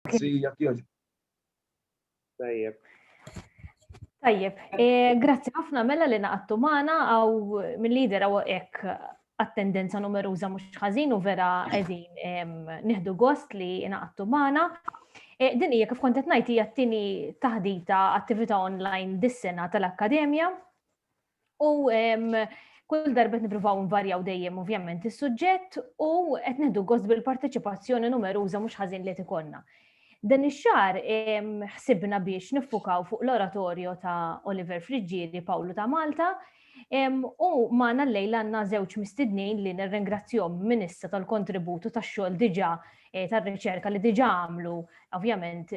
Grazzi, jekk jogħġbu. Tajjeb. Tajjeb, e, grazzi ħafna mela li naqattu magħna għaw mill-lider għaw hekk għat-tendenza numeruża mhux ħażin u vera qegħdin nieħdu gost li naqattu magħna. E, din hija kif kont qed ngħid hija t-tieni taħdita attività online dis-sena tal-Akkademja U kull darba nipruvaw nvarjaw dejjem ovvjament is-suġġett u qed neħdu gost bil-parteċipazzjoni numeruża mhux ħażin li tikonna. Dan ix-xar ħsibna biex niffukaw fuq l-oratorju ta' Oliver Friggieri Pawlu ta' Malta u magħna l-lejl għandna żewġ mistednin li nirringrazzjom minn issa tal-kontributu tax-xogħol diġà eh, tar-riċerka li diġà għamlu ovvjament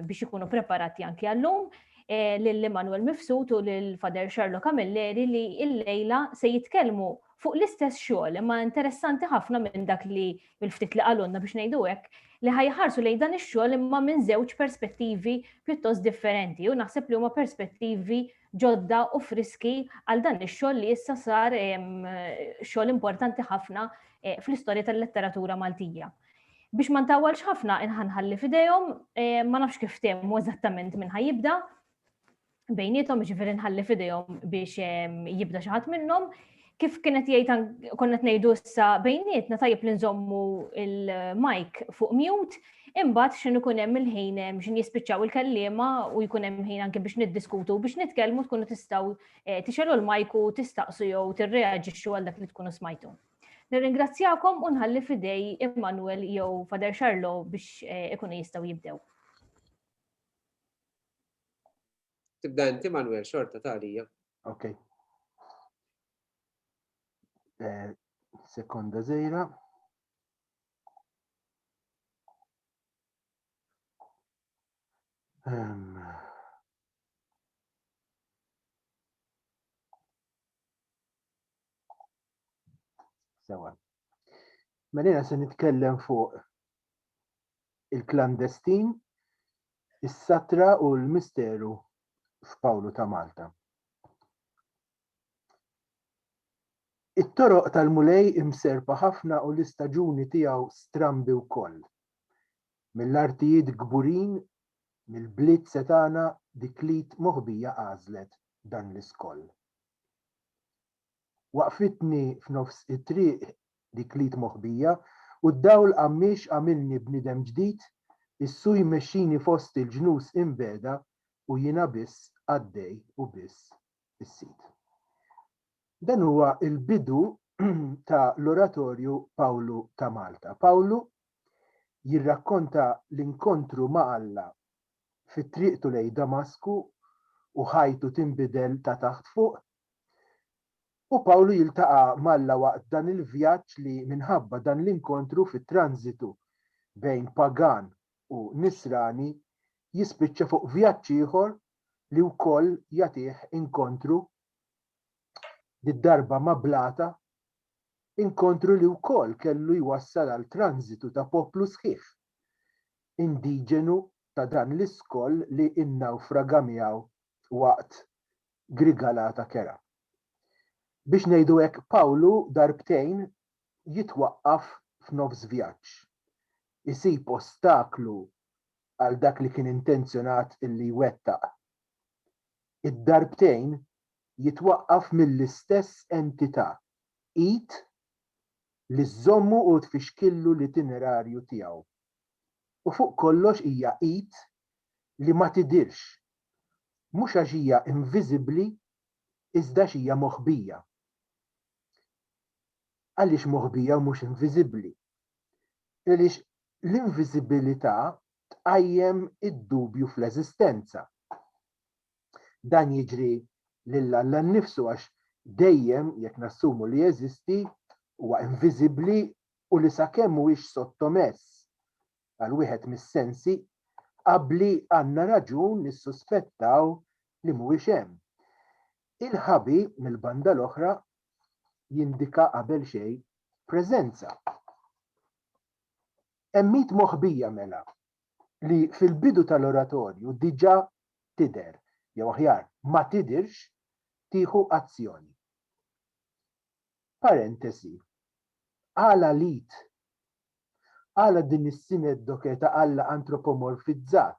biex ikunu preparati anki għallum. lum lil Emmanuel Mifsud u lil Father Sherlock Camilleri li illejla se jitkellmu fuq l-istess xogħol imma interessanti ħafna minn dak li mill-ftit li qalulna biex ngħidu hekk li ħajħarsu lejn dan ix-xogħol imma minn żewġ perspettivi pjuttost differenti u naħseb li huma perspettivi ġodda u friski għal dan ix-xogħol li issa sar xogħol importanti ħafna eh, fl-istorja tal-letteratura Maltija. Biex ma ntawwalx ħafna inħanħalli f'idejhom, eh, ma nafx kif temu eżattament minn ħajibda bejnietom ġifieri nħalli f'idejhom biex ehm, jibda xi ħadd minnhom. Kif kienet jgħid konna qed ngħidu issa bejnietna tajjeb li nżommu il-mic fuq mute, imbagħad x'in ikun hemm il-ħin ehm, x'in jispiċċaw il-kellima u jkun hemm ħin anke biex niddiskutu biex nitkellmu tkunu tistgħu eh, tixelu l-mic u tistaqsu jew tirreaġixxu għal dak li tkunu smajtu. Nirringrazzjakom u nħalli fidej Immanuel jew Fader Xarlo biex eh, ikunu jistgħu jibdew. Tibda inti Manuel xorta talija. Ok. Eh, sekonda zejra. Um. Sewa. Mela se nitkellem fuq il-klandestin, is-satra u l-misteru f'Pawlu ta' Malta. It-toroq tal-Mulej imserpa ħafna u l-istaġuni tiegħu strambi wkoll. Mill-artijiet kburin, mill-bliet setgħana dik lid moħbija għażlet dan l-iskoll. Waqfitni f'nofs it-triq dik l-id moħbija, u d-dawl qammiex għamilni bniedem ġdid, is-suj imexxini fost il-ġnus inbegħda u jiena biss għaddej u biss is-sid. Dan huwa l-bidu ta' l-oratorju Pawlu ta' Malta. Pawlu jirrakkonta l-inkontru ma' Alla fi triqtu lejn Damasku u ħajtu tinbidel ta' taħt fuq U Pawlu jiltaqa' m'Alla waqt dan il-vjaġġ li minħabba dan l-inkontru fit-tranżitu bejn pagan u nisrani jispiċċa fuq vjaġġ ieħor li wkoll jagħtih inkontru, did-darba ma' blata, inkontru li wkoll kellu jwassal għal tranżitu ta' poplu sħiħ, indiġenu ta' dan l-iskoll li nnawfraga miegħu waqt grigalata kerha. Biex ngħidu hekk Pawlu darbtejn jitwaqqaf f'nofs vjaġġ. Isib ostaklu għal dak li kien intenzjonat li jwettaq. Id-darbtejn jitwaqqaf mill-istess entità, id, li żżommu u tfixkillu l-itinerarju tiegħu. U fuq kollox hija id li ma tidhirx mhux għax hija inviżibbli iżda għax hija moħbija. Għaliex moħbija u mhux inviżibbli? Għaliex l-inviżibilità tqajjem id-dubju fl-eżistenza. Dan jiġri lil Alla nnifsu għax dejjem, jekk nassumu li jeżisti, huwa inviżibbli u li sakemm mhuwiex sottomess għal wieħed mis-sensi qabbli għandna raġun nissuspettaw li mhuwiex hemm. Il-ħabi, mill-banda l-oħra, jindika qabel xejn preżenza. Hemm id moħbija mela li fil-bidu tal-oratorju diġà tidher, jew aħjar ma tidhirx, tieħu azzjoni. Parentesi. Għala l-id? Għala din is-sineddoke ta' Alla antropomorfizzat?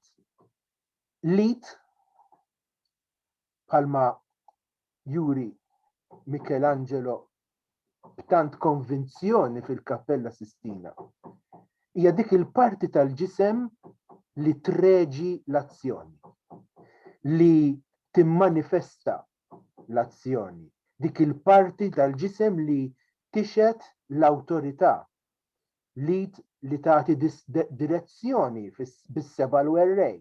L-id, bħalma juri Michelangelo b'tant konvinzjoni fil-Kappella Sistina, hija dik il-parti tal-ġisem li treġi l-azzjoni, li timmanifesta l-azzjoni, dik il-parti tal-ġisem li tixhed l-awtorità, l-id li tagħti direzzjoni bis-seba' l-werrej,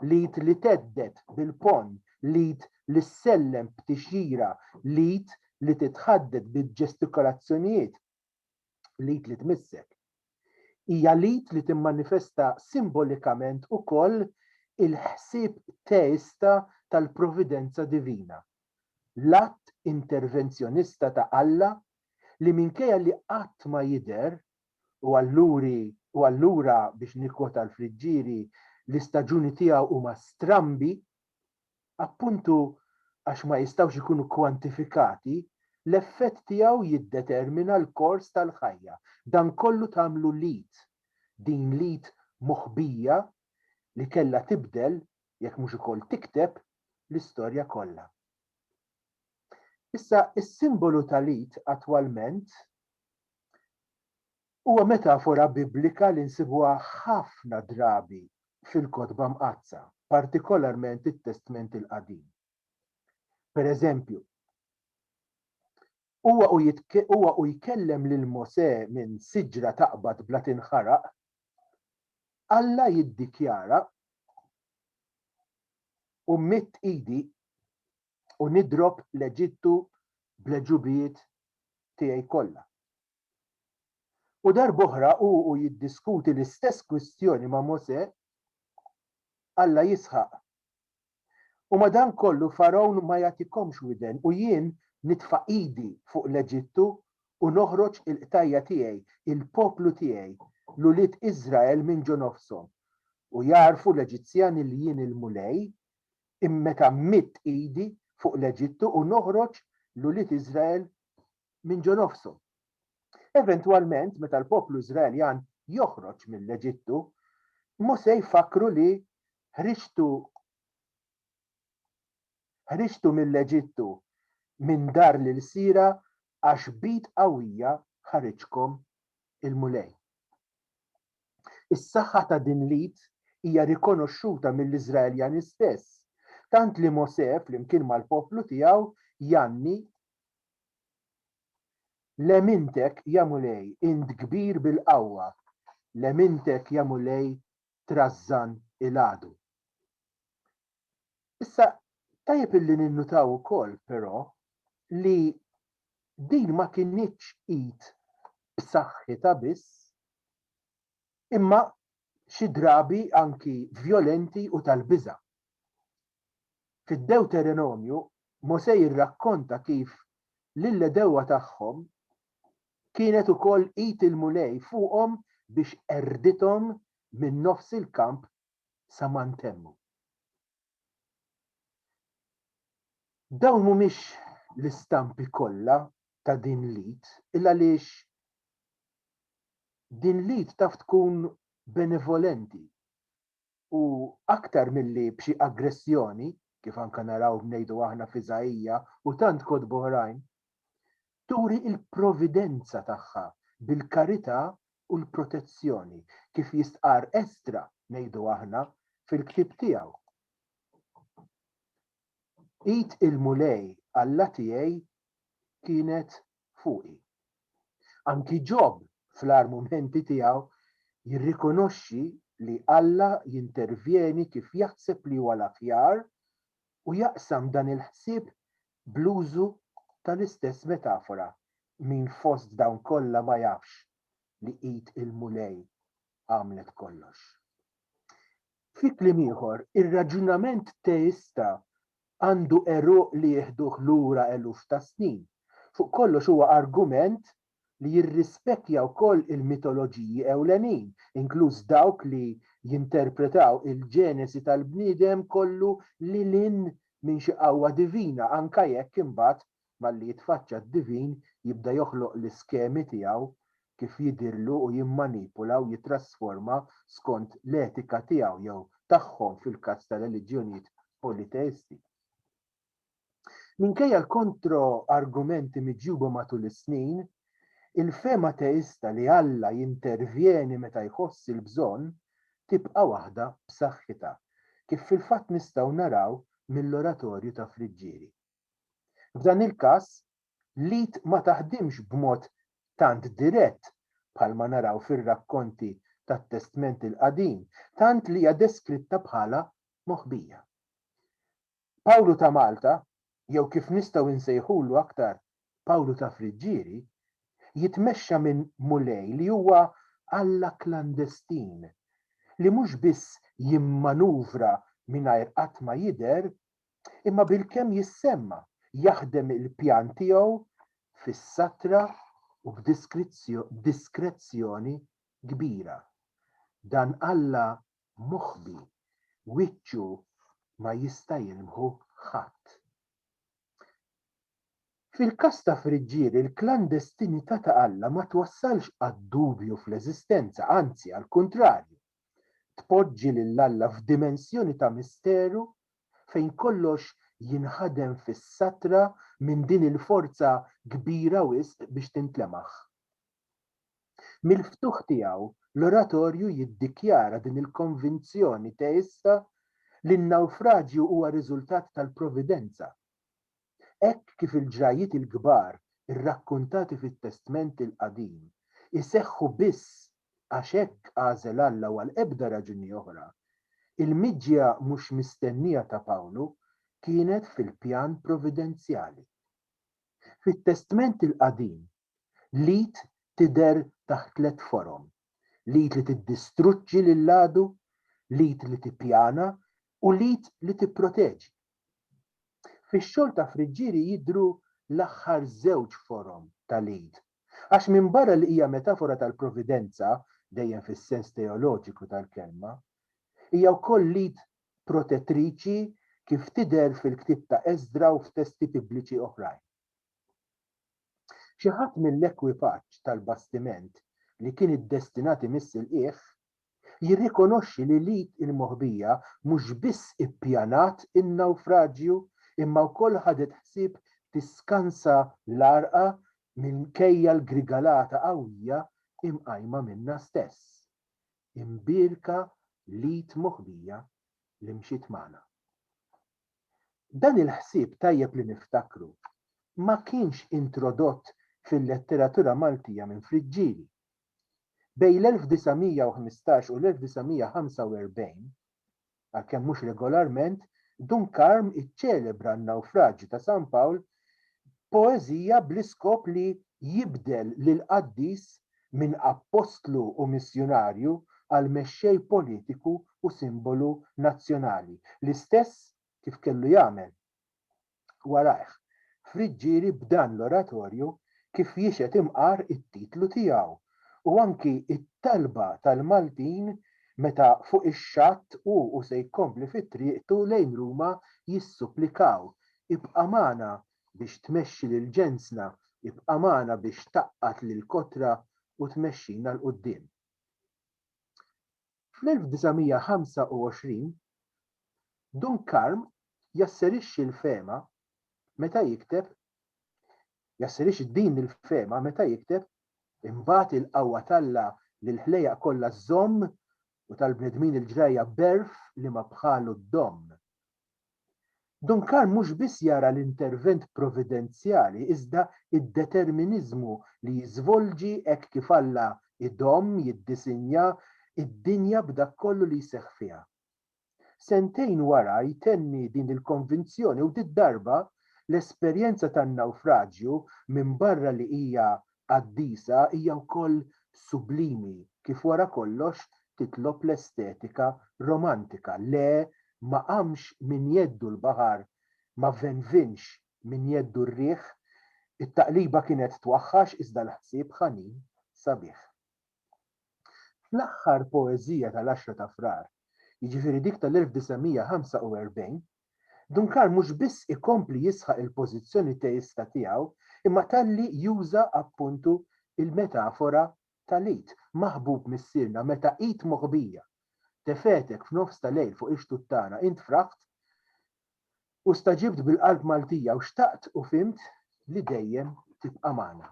l-id li thedded bil-ponn, l-id li ssellem b'tixjira, l-id li titħaddet bil-ġestikolazzjonijiet, L-id li tmissek. Hija l-id li timmanifesta simbolikament ukoll il-ħsieb teista tal-providenza divina, l-att intervenzjonista ta' Alla li minkejja li qatt ma jidher, u alluri u allura biex nikkwota l-Friggieri, l-istaġuni tiegħu huma strambi, Appuntu għax ma jistgħux ikunu kwantifikati, l-effett tiegħu jiddetermina l-kors tal-ħajja. Dan kollu tagħmlu l-id, din l-id moħbija li kellha tibdel, jekk mhux ukoll tikteb, l-istorja kollha. Issa, is-simbolu tal-id attwalment Huwa metafora Biblika li nsibuha ħafna drabi fil-Kotba Mqaddsa, partikolarment it-Testment il-Qadim. Per eżempju, huwa u huwa u jkellem lil Mosè minn siġra taqbad bla tinħaraq, Alla jiddikjara, U mmidd idi u nidrob l-Eġittu bl-għeġubijiet tiegħi kollha. U darb'oħra hu u jiddiskuti l-istess kwistjoni ma' Mosè, Alla jisħaq, U madankollu Fargħun ma jagħtikomx widen u jien nitfa' idi fuq l-Eġittu u noħroġ il-qtajja tiegħi, il-poplu tiegħi, l-ulied Iżrael minn ġo nofshom, u jagħrfu l-Eġizzjani li jien il-Mulej, meta mmidd idi fuq l-Eġittu u noħroġ l-ulied Iżrael minn ġo nofshom. Eventwalment, meta l-poplu Iżraeljan joħroġ mill-Eġittu, Mosè jfakkru li ħriġtu ħriġtu mill-Eġittu minn dar l-ilsiera għax b'id qawwija ħariġkom il-Mulej. Is-saħħa ta' din l-id hija rikonoxxuta mill-Iżraeljani stess, tant li Mosè flimkien mal-poplu tiegħu jgħanni Lemintek, ja Mulej, int kbir bil-qawwa, lemintek, ja Mulej, trażżan il-għadu. Issa, tajjeb illi ninnutaw ukoll, però, li din ma kinitx id b'saħħitha biss, imma xi drabi anki vjolenti u tal-biża'. Fid-Dewterenomju, Mosè jirrakkonta kif lill-għedewwa tagħhom kienet ukoll id il-Mulej fuqhom biex qerrdithom minn nofs il-kamp sa ma ntemmu. Dawn mhumiex l-istampi kollha ta' din l-id il-għaliex din l-id taf tkun benevolenti. U aktar milli b'xi aggressjoni, kif anke naraw ngħidu aħna f'Iżaija u tant kotba oħrajn, turi l-providenza tagħha bil-karità u l-protezzjoni, kif jistqarr Esdra, ngħidu aħna, fil-ktieb tiegħu, Id il-Mulej Alla tiegħi kienet fuqi. Anki Ġob fl-agħar mumenti tiegħu jirrikonoxxi li Alla jintervjeni kif jaħseb li huwa l-aħjar u jaqsam dan il-ħsieb bl-użu tal-istess metafora, Min fost dawn kollha ma jafx li id il-Mulej għamlet kollox? Fi kliem ieħor, ir-raġunament teista għandu għeruq li jieħduh lura eluf ta' snin. Fuq kollox huwa argument li jirrispettja wkoll il-mitoloġiji ewlenin, inkluż dawk li jinterpretaw il-ġenesi tal-bniedem kollu lil hinn minn xi qawwa divina, anke jekk imbagħad Malli jitfaċċa d-divin jibda joħloq l-iskemi tiegħu kif jidhirlu u jimmanipula u jittrasforma skont l-etika tiegħu jew tagħhom fil-każ tar-reliġjonijiet politeisti. Minkejja l-kontro-argumenti miġjuba matul is-snin, il-fehma teista li Alla jintervjeni meta jħoss il-bżonn tibqa' waħda b'saħħitha, kif fil-fatt nistgħu naraw mill-oratorju ta' Friġġieri. F'dan il-każ, l-id ma taħdimx b'mod tant dirett bħalma naraw fir-rakkonti tat-Testment il-Qadim, tant li hija deskritta bħala moħbija. Pawlu ta' Malta, jew kif nistgħu insejħulu aktar Pawlu ta' Friġġieri, jitmexxa minn Mulej li huwa Alla klandestin, li mhux biss jimmanuvra mingħajr qatt ma jidher, imma bilkemm jissemma jaħdem il-pjan tiegħu fis-satra u b'diskrezzjoni kbira. Dan Alla moħbi, wiċċu ma jista' jilmħu ħadd. Fil-każ ta' Friġġieri, il-klandestinità ta' Alla ma twassalx għad-dubju fl-eżistenza, anzi għall-kuntrarju, tpoġġi lil Alla f'dimensjoni ta' misteru fejn kollox jinħadem fis-satra minn din il-forza kbira wisq biex tintlemaħ. Mill-ftuħ tiegħu, l-Oratorju jiddikjara din il-konvinzjoni teista li n-nawfraġju huwa riżultat tal-Providenza, Hekk kif il-ġrajjiet il-kbar irrakkuntati fit-Testment il-Qadim iseħħu biss għax hekk għażel Alla u għal ebda raġuni oħra, il-miġja mhux mistennija ta' Pawlu kienet fil-pjan providenzjali. Fit-Testment il-Qadim L-id tidher taħt tliet forom, l-id li tiddistruġġi lill-għadu, l-id li tippjana u l-id li tipproteġi. Fix-xogħol ta' Friggieri jidhru l-aħħar żewġ forom tal-id, għax minbarra li hija metafora tal-providenza, dejjem fis-sens teoloġiku tal-kelma, hija wkoll l-id protettriċi kif tidher fil-ktieb ta' Esdra u f'testi Bibliċi oħrajn. Xi ħadd mill-ekwipaġġ tal-bastiment li kien iddestinat imiss il-qiegħ jirrikonoxxi li l-id il-moħbija mhux biss ippjanat in-nawfraġju imma wkoll ħadet ħsieb tiskansa l-għarqa minkejja l-grigalata qawwija imqajma minnha stess. Imbierka l-id moħbija li mxiet magħna. Dan il-ħsieb tajjeb li niftakru ma kienx introdott fil-letteratura Maltija minn Friġġieli. Bejn l-1915 u l-1945, għalkemm mhux regolarment, Dun Karm iċċelebra n-nawfraġju ta' San Pawl Poeżija bl-iskop li jibdel lil qaddis minn appostlu u missjunarju għal mexxej politiku u simbolu nazzjonali, l-istess kif kellu jagħmel warajh Friggieri b'dan l-oratorju kif jixhed imqar it-titlu tiegħu u anki t-talba tal-Maltin meta fuq ix-xatt hu u se jkompli fi triqtu lejn Ruma jissupplikaw Ibqa' magħna biex tmexxi lil ġensna, ibqa' magħna biex tgħaqqad lill-kotra u tmexxina 'l quddiem. Fl-1925, Dun Karm jasserixxi l-fehma meta jikteb jasserixxi din il-fehma meta jikteb, Imbagħad il-qawwa t'Alla li l-ħlejjaq kollha żżomm u tal-bnedmin il-ġrajja b'għerf li ma bħalu ddomm. Duncan mhux biss jara l-intervent providenzjali iżda d-determiniżmu li jiżvolġi hekk kif Alla jdomm jiddisinja d-dinja b'dak kollu li jseħħ fiha. Sentejn wara jtenni din il-konvinzjoni u did-darba l-esperjenza tan-nawfraġju minbarra li hija qaddisa hija wkoll sublimi kif wara kollox titlob l-estetika romantika, le ma qamx minn jeddu l-baħar, ma venvinx minn jeddu r-riħ, it-taqliba kienet twaħħax iżda l-ħsieb ħanin, sabiħ. Fl-aħħar poeżija tal-Għaxra ta' Frar, jiġifieri dik tal-1945, Duncan mhux biss ikompli jisħaq il-pożizzjoni teista tiegħu imma talli juża appuntu l-metafora tal-id, maħbub Missierna, meta id moħbija tefgħetek f'nofs ta' lejl fuq ix-xtuttana, int fraħt u staġibt bil-qalb Maltija u xtaqt u fhimt li dejjem tibqa' magħna.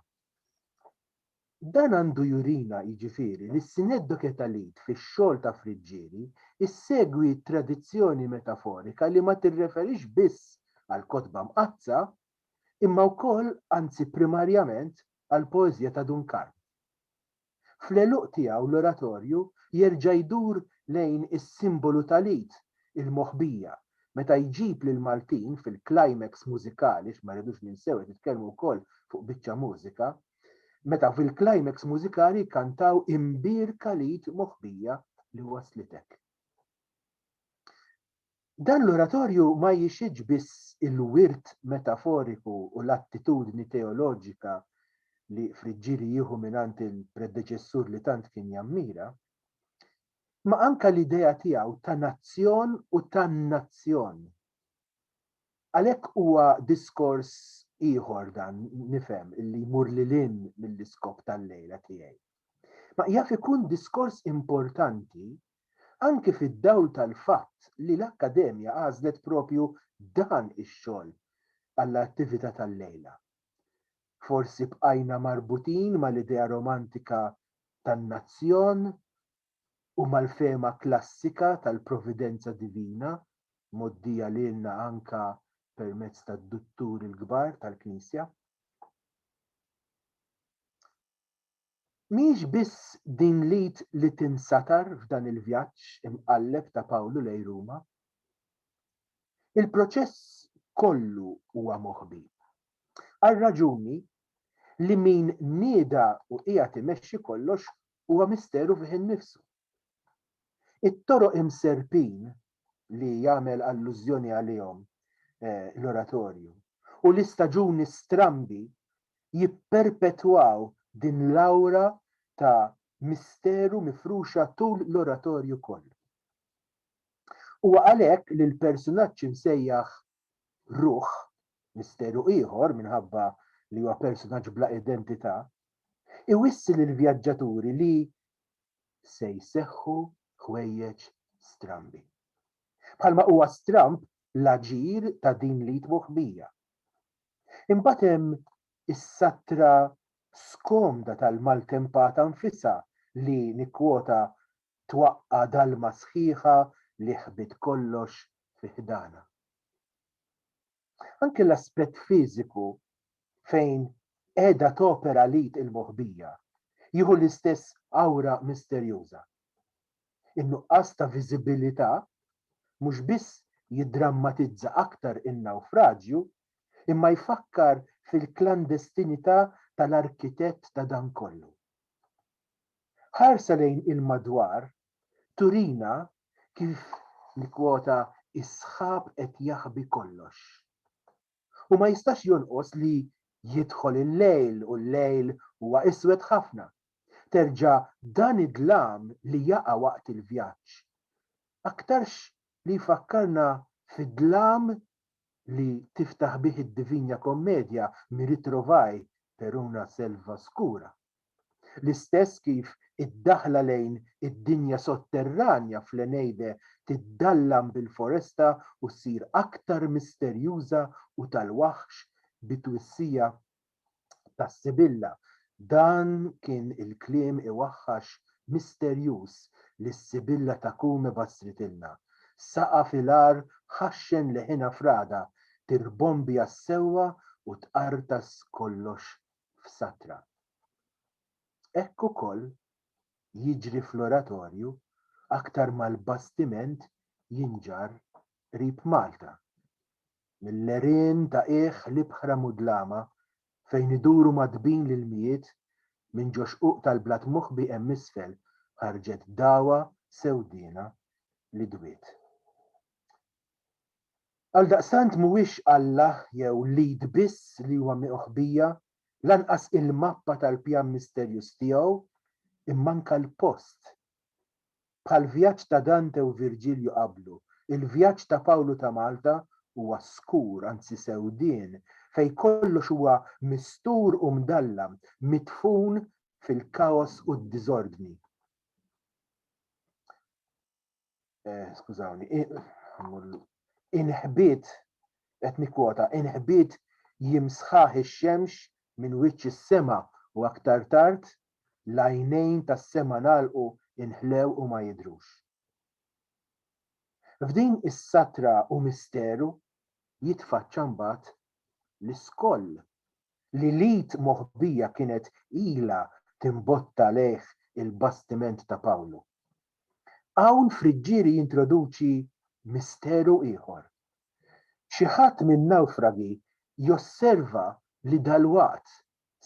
Dan għandu jurina, jiġifieri, li s-Syneddoche Etalite fix-xogħol ta' Friġġieri ssegwi tradizzjoni metaforika li ma tirreferix biss għall-Kotba Mqaddsa, imma wkoll, anzi primarjament, għall-poeżija ta' Dun Karm. Fl-għeluq tiegħu l-Oratorju jerġa' jdur lejn is-simbolu tal-id, il-moħbija, meta jġib lill-Maltin fil-climax mużikali, għax ma rridux ninsew qed nitkellmu wkoll fuq biċċa mużika, meta fil-climax mużikali jkantaw Imbir Khalid moħbija li waslitek. Dan l-oratorju ma jixhidx biss il-wirt metaforiku u l-attitudni teoloġika li Friġġieri jieħu mingħand il-predeċessur li tant kien jammira, ma anke l-idea tiegħu ta' nazzjon u tan-nazzjon Għalhekk huwa diskors ieħor dan, nifhem, li jmur lil hinn mill-iskop tal-lejla tiegħi. Ma jaf ikun diskors importanti anki fid-dawl tal-fatt li l-Akkademja għażlet proprju dan ix-xogħol għall-attività tal-lejla. Forsi bqajna marbutin mal-idea romantika tan-nazzjon u mal-fehma klassika tal-providenza divina, mgħoddija lilna anke permezz tad-Dutturi l-Kbar tal-Knisja. Mhijiex biss din l-id li tinsatar f'dan il-vjaġġ imqalleb ta' Pawlu lejn Ruma. Il-proċess kollu huwa moħbi, għar-raġuni li min nieda u qiegħed imexxi kollox huwa misteru fih innifsu. It-toroq imserrpin li jagħmel allużjoni għalihom l-oratorju u l-istaġuni strambi jipperpetwaw din l-awra ta' misteru mifruxa tul l-oratorju kollu. Huwa għalhekk li l-persunaġġ imsejjaħ Ruħ, misteru ieħor minħabba li huwa personaġġ bla identità, iwissi lill-vjaġġaturi li se jseħħu ħwejjeġ strambi. Bħalma huwa stramb l-aġir ta' din l-id moħbija. Imbagħad hemm is-sattra skomda tal-maltempata nfisha li nikkwota twaqqa' dalma sħiħa li ħbiet kollox fi ħdanha. Anke l-aspett fiżiku fejn qiegħda topera l-id il-moħbija jieħu l-istess awra misterjuża. In-nuqqas ta' viżibilità mhux biss jiddrammatizza aktar in-nawfraġju imma jfakkar fil-klandestinità tal-arkitett ta' dan kollu. Ħarsa lejn il-madwar turina kif li kwota s-sħab qed jaħbi kollox. U ma jistax jonqos li jidħol il-lejl u l-lejl huwa iswed ħafna. Terġa' dan id-dlam li jaqa' waqt il-vjaġġ aktarx li jfakkarna fid-dlam li tiftaħ bih id-Divinja Kommedja mi ritrovaij per una selva scura. L-istess kif id-daħla lejn id-dinja sotterranja fl-Eneide tiddallam bil-foresta u ssir aktar misterjuża u tal-waħx bit-twissija ta' Sibilla, dan kien il-kliem iwaħħax misterjuż li s-Sibilla ta' Cume bassritilna. Saqa' fil-agħar ħaxxen leħinha f'ragħda tirbombja s-sewwa u tqartas kollox f'satra. Hekk ukoll jiġri fl-oratorju aktar ma l-bastiment jinġarr qrib Malta. Mill-għerien ta' qiegħ l-ibħra mudlama fejn iduru magħtbin l-ilmijiet, minn ġo xquq tal-blat moħbi hemm isfel ħarġet dagħwa sewdiena li dwiet. Għaldaqstant mhuwiex Alla jew l-id biss li huwa miqħbija, lanqas il-mappa tal-pjan misterjuż tiegħu, imma anke l-post. Bħall-vjaġġ ta' Dante u Virġilju qablu, il-vjaġġ ta' Pawlu ta' Malta huwa skur, anzi sewdien, fejn kollox huwa mistur u mdallam, midfun fil-kaos u d-diżordni. eh, skużawni, inħbit, qed nikkwota, inħbit jimsħaħ ix-xemx minn wiċċ is-sema u aktar tard l-għajnejn tas-sema nagħlqu inħlew u ma jidhrux. F'din is-satra u misteru jitfaċċa mbagħad l-iskoll li lid moħbija kienet ilha timbotta lejh il-bastiment ta' Pawlu. Hawn Friggieri jintroduċi misteru ieħor. Xi ħadd min-nawfragi josserva li dalwaqt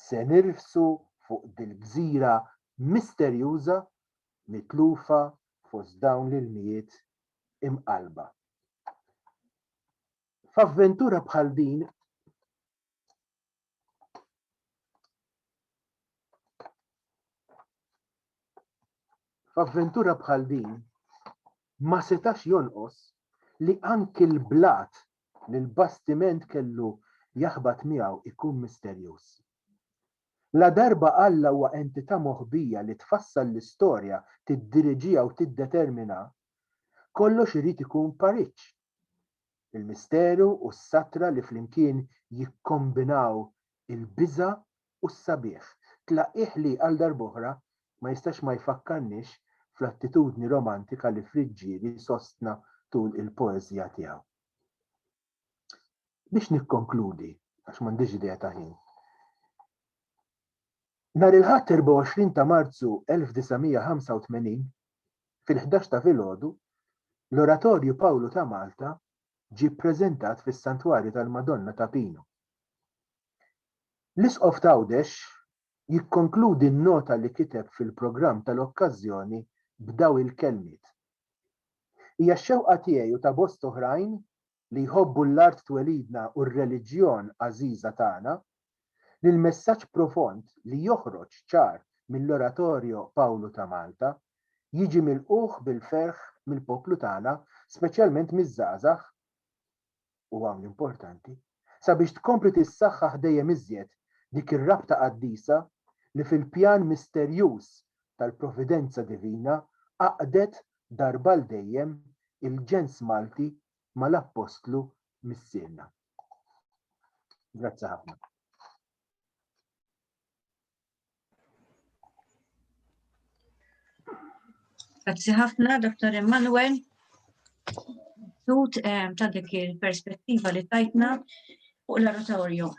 se nirfsu fuq dil-gżira misterjuża mitlufa fost dawn l-ilmijiet imqallba. F'avventura bħal din F'avventura bħal din ma setax jonqos li anki l-blat li l-bastiment kellu jaħbat miegħu jkun misterjuż. La darba Alla huwa entità moħbija li tfassal l-istorja, tiddiriġiha u tiddetermina, kollox irid ikun pariġġ. il-misteru u s-satra li flimkien jikkombinaw il-biża' u s-sabiħ. Tlaqqigħ li, għal darb'oħra, ma jistax ma jfakkarniex fl-attitudni romantika li Fried Ġieri sostna tul il-poeżija tiegħu. Biex nikkonkludi, għax m'għandix idea ta' ħin, Nhar il-Ħadd 24 ta' Marzu 1985, fil-ħdax ta' filgħodu, l-Oratorju Pawlu ta' Malta ġie ppreżentat fis-Santwarju tal-Madonna ta' Pinu. L-Isqof t'Għawdex jikkonkludi n-nota li kiteb fil-programm tal-okkażjoni b'daw il-kelmiet, Hija x-xewqa tiegħi u ta' bost oħrajn li jħobbu l-art twelidna u r-reliġjon għażiża tagħna, li l-messaġġ profond li joħroġ ċar mill-Oratorio Pawlu ta' Malta jiġi milqugħ bil-ferħ mill-poplu tagħna speċjalment miż-żgħażagħ, u hawn l-importanti, sabiex tkompli tissaħħaħ dejjem iżjed dik ir-rabta qaddisa li fil-pjan misterjuż tal-providenza divina għaqqdet darba għal dejjem il-ġens Malti mal-Appostlu Missierna. Grazzi ħafna. Grazzi ħafna, Dr. Emanuel. Tut eh, ta' dik il-perspettiva li tajtna fuq l-oratorju.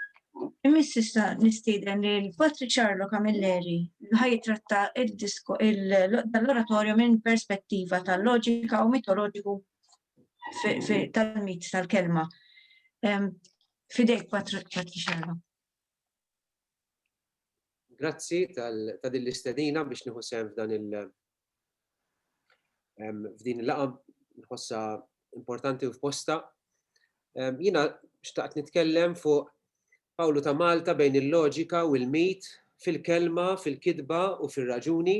Immiss issa nistieden li l-Patri Charlo Camilleri ħaj tratta l-oratorju minn perspettiva tal-loġika u mitoloġiku tal-mit tal-kelma. Fidejk Patri Charlo. Grazzi ta' din l-istedina biex nieħu sehem f'dan f'din il-laqa nħossa importanti u f'posta. Jina xtaqt nitkellem fuq Pawlu ta' Malta bejn il-loġika u l-mit fil-kelma, fil-kidba u fil-raġuni.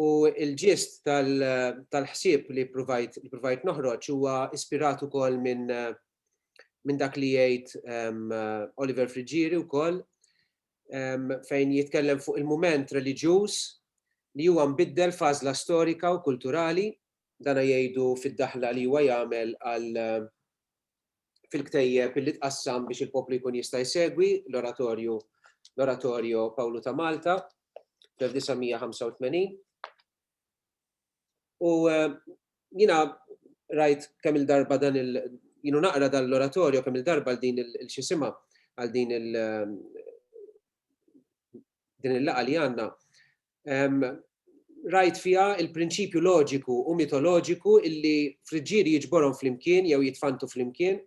U il-ġist tal-ħsieb li provajt noħroġ huwa ispirat ukoll minn minn dak li jgħid Oliver Friggieri wkoll fejn jitkellem fuq il-mument reliġjuż li huwa mbiddel f'għażla storika u kulturali, dan jgħidu fid-daħla li huwa jagħmel għal fil-ktejjeb li tqassam biex il-poplu jkun jista' jsegwi l-oratorju l-oratorio Pawlu ta' Malta fl-1985. U jina rajt kemm il-darba dan il jinu naqra dan l-oratorju kemm il-darba din il-xisima għal din il din il-laqa li għanna. Rajt fija il-prinċipju loġiku u mitoloġiku illi friġġieri jiġborhom flimkien jew jitfantu flimkien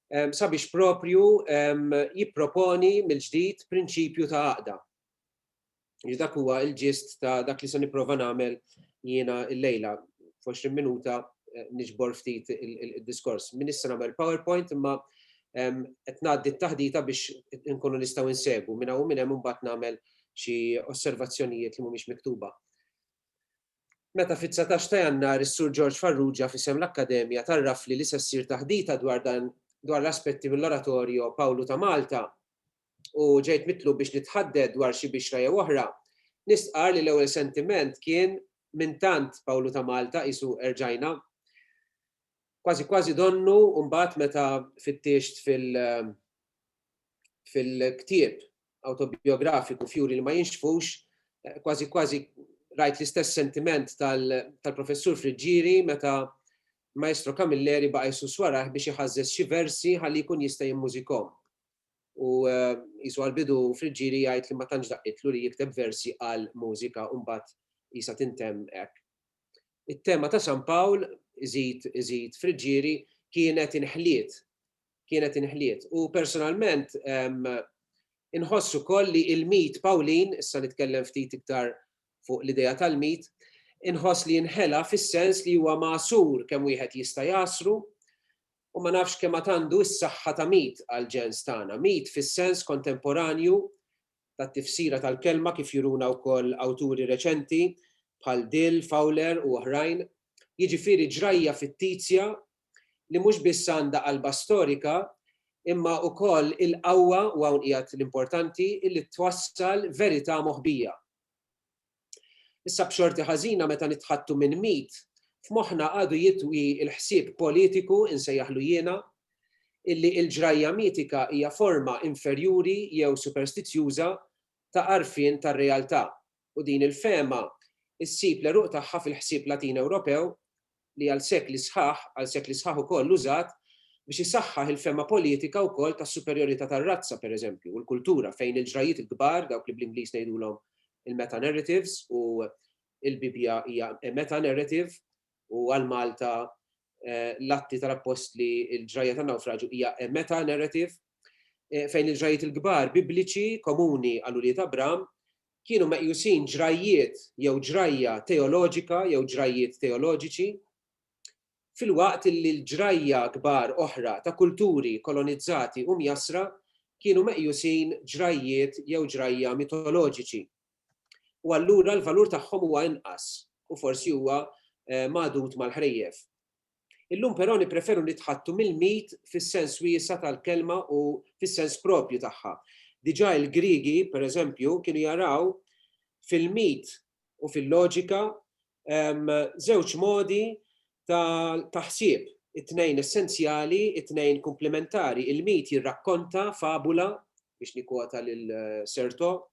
sabiex propju jipproponi mill-ġdid prinċipju ta' għaqda. Jiġifieri dak huwa l-ġist ta' dak li se nipprova nagħmel jiena llejla. F'għoxrin minuta niġbor ftit id-diskors. M'iniex se nagħmel PowerPoint imma qed ngħaddi t-taħdita biex inkunu nistgħu nsegwu. Minn hawn u minn hemm imbagħad nagħmel xi osservazzjonijiet li mhumiex miktuba. Meta fit-dsatax ta' Jannar is-Sur George Farrugia f'isem l-Akkademja tgħarrafli li se ssir taħdita dwar l-aspetti mill-Oratorio Pawlu ta' Malta, u ġejt mitlub biex nitħadded dwar xi bixra jew oħra, nistqarr li l-ewwel sentiment kien minn tant Pawlu ta' Malta qisu erġajna. Kważi kważi donnu mbagħad meta fittixt fil fil-ktieb awtobijografiku f'juri li ma jinxfux, kważi kważi rajt l-istess sentiment tal-Professur Friggieri meta Maestro Camilleri baqa' jsus warajh biex iħażżeż xi versi ħalli jkun jista' jimmużikhom. u qisu għall-bidu Friggieri jgħid li ma tantx daqqitlu li jikteb versi għal mużika u mbagħad qisha tintemm hekk. It-tema ta' San Pawl, iżid iżid Friggieri, kienet inħliet, kienet inħliet. U personalment inħoss ukoll li l-mit Pawlin, issa nitkellem ftit iktar fuq l-idea tal-mit, inħoss li nħela fis-sens li huwa magħsur kemm wieħed jista' jgħassru, U ma nafx kemm għad għandu s-saħħa ta' Mead għall-ġens tagħna. Mead fis-sens kontemporanju tat-tifsira tal-kelma kif juruna wkoll awturi reċenti bħal Dill, Fowler u oħrajn, jiġifieri ġrajja fittizja li mhux biss għandha qalba storika imma wkoll il-qawwa, u hawn qiegħed l-importanti, li twassal verità moħbija. Issa b'xorti ħażina meta nitħaddtu minn mit, f'moħħna għadu jitwi l-ħsieb politiku, insejjaħlu jiena, illi il-ġrajja mitika hija forma inferjuri jew superstizjuża ta' għarfien tar-realtà, u din il-fehma ssib l-għeruq tagħha fil-ħsieb Latin Ewropew li għal sekli sħaħ, għal sekli sħaħ ukoll użat biex isaħħaħ il-fehma politika wkoll tas-superjorità tar-razza, pereżempju, u l-kultura, fejn il-ġrajjiet il-kbar, dawk li bl-Ingliż ngħidulhom il-metanarratives, u l-Bibbja hija a metanarrative, u għal Malta l-Atti tal-Appostli, il-ġrajja tan-nawfraġju hija a metanarrative, fejn il-ġrajjiet il-kbar Bibliċi komuni għal ulied Abram kienu meqjusin ġrajjiet jew ġrajja teoloġika jew ġrajjiet teoloġiċi, filwaqt li l-ġrajja kbar oħra ta' kulturi kolonizzati u mjassra kienu meqjusin ġrajjiet jew ġrajja mitoloġiċi, u allura l-valur tagħhom huwa inqas u forsi huwa magħdud mal-ħrejjef. Illum però nippreferu nitħaddtu mill-mit fis-sens wiesa' tal-kelma u fis-sens proprju tagħha. Diġà il-Griegi, pereżempju, kienu jaraw fil-mit u fil-loġika żewġ modi ta' ħsieb, it-tnejn essenzjali, it-tnejn kumplimentari. Il-mit jirrakkonta fabula, biex nikkwota lil Certeau,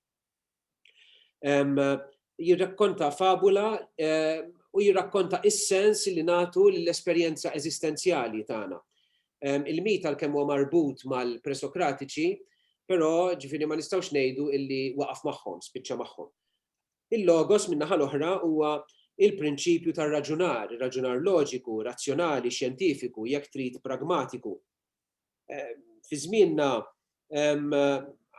Jirrakkonta fabula u jirrakkonta is-sens li nagħtu lill-esperjenza eżistenzjali tagħna. Il-mit għalkemm huwa marbut mal-presokratiċi, però ġifieri ma nistgħux ngħidu li waqaf magħhom, spiċċa magħhom. Il-logos min-naħa l-oħra huwa il-prinċipju tar-raġunar, ir-raġunar loġiku, razzjonali, xjentifiku, jekk trid pragmatiku. Fi żmienna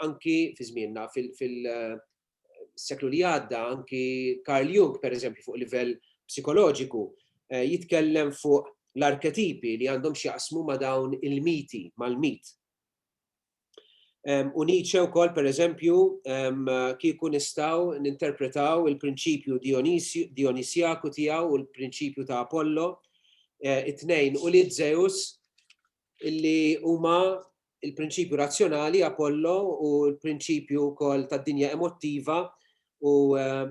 anki fi żmienna fil-seklu li għadda anki Carl Jung pereżempju fuq livell psikoloġiku eh, jitkellem fuq l-arketipi li għandhom x'jaqsmu ma' dawn il-miti, mal-mit. U Nietzsche wkoll pereżempju kieku nistgħu ninterpretaw il-prinċipju Dionisjaku tiegħu u l-prinċipju ta' Apollo, eh, it-tnejn u li Zeus illi huma il-prinċipju razzjonali Apollo u l-prinċipju wkoll tad-dinja emottiva u eh,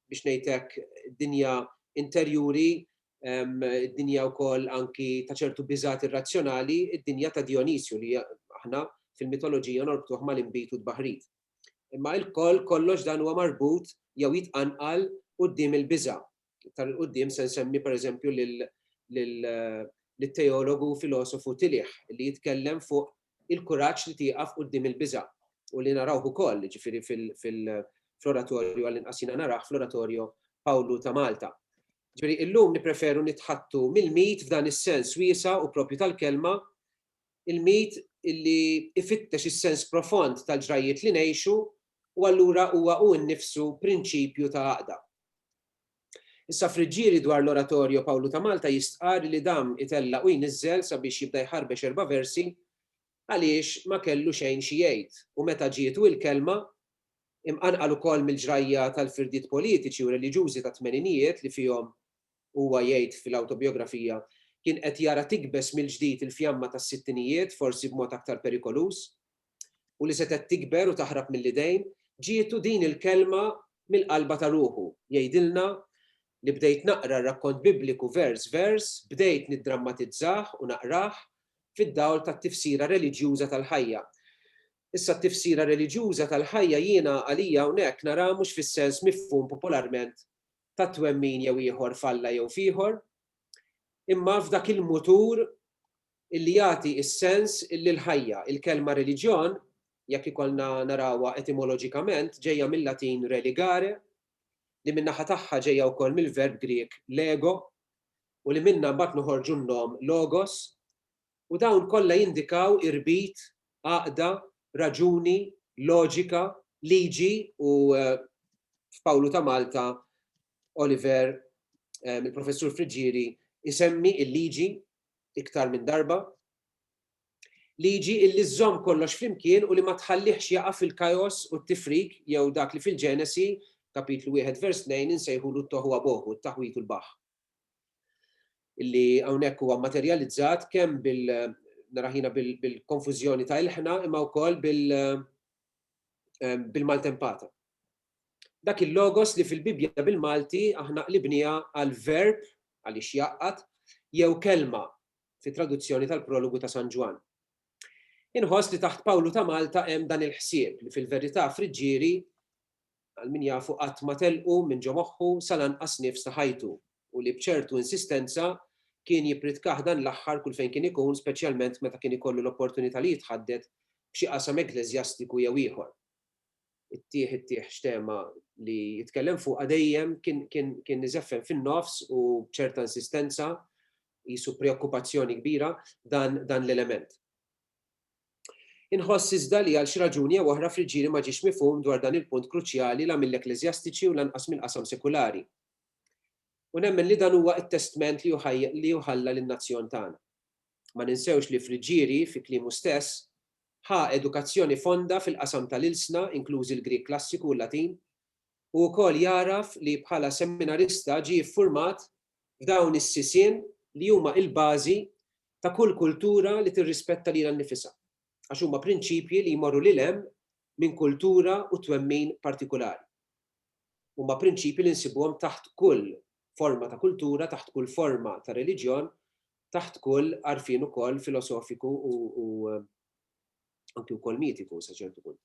biex ngħidlek dinja interjuri, ehm, dinja wkoll anki ta' ċertu biżat irrazzjonali, id-dinja ta' Dionisju li aħna fil-mitoloġija norbtuh mal-imbit u d-baħrit. Imma il-koll kollox dan huwa marbut jew jitqanqal qudiem il-biża. iktar 'il quddiem se nsemmi pereżempju lit-teologu u filosofu Tillich li jitkellem fuq il-kuraġġ li tieqaf quddiem il-biża' u li narawh ukoll, jiġifieri fl-oratorju, għallinqas jiena narah, fl-oratorju Pawlu ta' Malta. Ġifieri illum nippreferu nitħaddtu mill-mit f'dan is-sens wiesa' u proprju tal-kelma, il-mit li jfittex is-sens profond tal-ġrajjiet li ngħixu u allura huwa hu nnifsu prinċipju ta' għaqda. Issa Friggieri dwar l-Oratorio Pawlu ta' Malta jistqarr li dam itella' u jniżżel sabiex jibda jħarbex erba' versi għaliex ma kellu xejn xi jgħid u meta ġietu il-kelma, imqanqal ukoll mill-ġrajja tal-firdiet politiċi u reliġjużi tat-tmeninijiet li fihom, huwa jgħid fil-awtobijografija, kien qed jara tikbeż mill-ġdid il-fjamma tas-sittinijiet, forsi b'mod aktar perikoluż. u li setgħet tikber u taħrab mill-idejn, ġietu din il-kelma mill-qalba ta' ruħu, jgħidilna li bdejt naqra r-rakkont Bibliku vers vers, bdejt niddrammatizzah u naqrah fid-dawl tat-tifsira reliġjuża tal-ħajja. Issa t-tifsira reliġjuża tal-ħajja jiena għalija hawnhekk naraha mhux fis-sens mifhum popolarment ta' twemmin jew ieħor f'Alla jew f'ieħor, imma f'dak il-mutur illi jagħti s-sens illi l-ħajja. Il-kelma reliġjon, jekk ikollna narawha etimoloġikament, ġejja mil-Latin religare, li min-naħa tagħha ġejja wkoll mill-verb Grieg lego, u li minnha mbagħad noħorġu n-nom logos, u dawn kollha jindikaw irbit, għaqda, raġuni, loġika, liġi u, f'Pawlu ta' Malta, Oliver, il-Professur Friggieri, isemmi l-liġi iktar minn darba, liġi illi żżomm kollox flimkien u li ma tħallihx jaqa' fil-kajos u t-tifrik jew dak li fil-Ġenesi, Kapitlu wieħed vers tnejn, insejħulu t-tohuwa bohu, t-taħwid u l-baħħ. Illi hawnhekk huwa mmaterjalizzat kemm bil naraħ jiena bil-konfużjoni ta' ilħna imma wkoll bil-maltempata. Dak il-logos li fil-Bibbja bil-Malti aħna qlibniha għal verb, għaliex jgħaqqad, jew kelma, fit-traduzzjoni tal-Prologu ta' San Ġwann. Inħoss li taħt Pawlu ta' Malta hemm dan il-ħsieb li fil-verità Friġġieri, għal min jafu qatt ma telqu minn ġo moħħu sal-anqas nifs ta' ħajtu u li b'ċertu insistenza kien jippridkah dan l-aħħar kull fejn kien ikun speċjalment meta kien ikollu l-opportunità li jitħadded f'xi qasam ekkleżjastiku jew ieħor. it-tieħ it-tieħ x'tema li jitkellem fuqha dejjem kien iżeffen fin-nofs u b'ċerta insistenza qisu preokkupazzjoni kbira dan l-element. Inħoss iżda li għal xi raġuni jew oħra f'Riġieli ma ġiex mifhum dwar dan il-punt kruċjali la mill-ekkleżjastiċi u lanqas mill-qasam sekulari. U nemmen li dan huwa t-testment li hu ħalla lin-nazzjon tagħna. Ma ninsewx li f'Riġieli, fi kliemu stess, ħa edukazzjoni fonda fil-qasam tal-ilsna, inklużi l-Grieg Klassiku u l-Latin, u wkoll jagħraf li bħala seminarista ġie ffurmat f'dawn is-sisien li huma il-bażi ta' kull kultura li tirrispetta lilha nnifisha, għax huma prinċipji li jmorru lil hemm minn kultura u twemmin partikulari. Huma prinċipji li nsibuhom taħt kull forma ta' kultura, taħt kull forma ta' reliġjon taħt kull għarfien ukoll filosofiku u anki wkoll mitiku sa ċertu punt.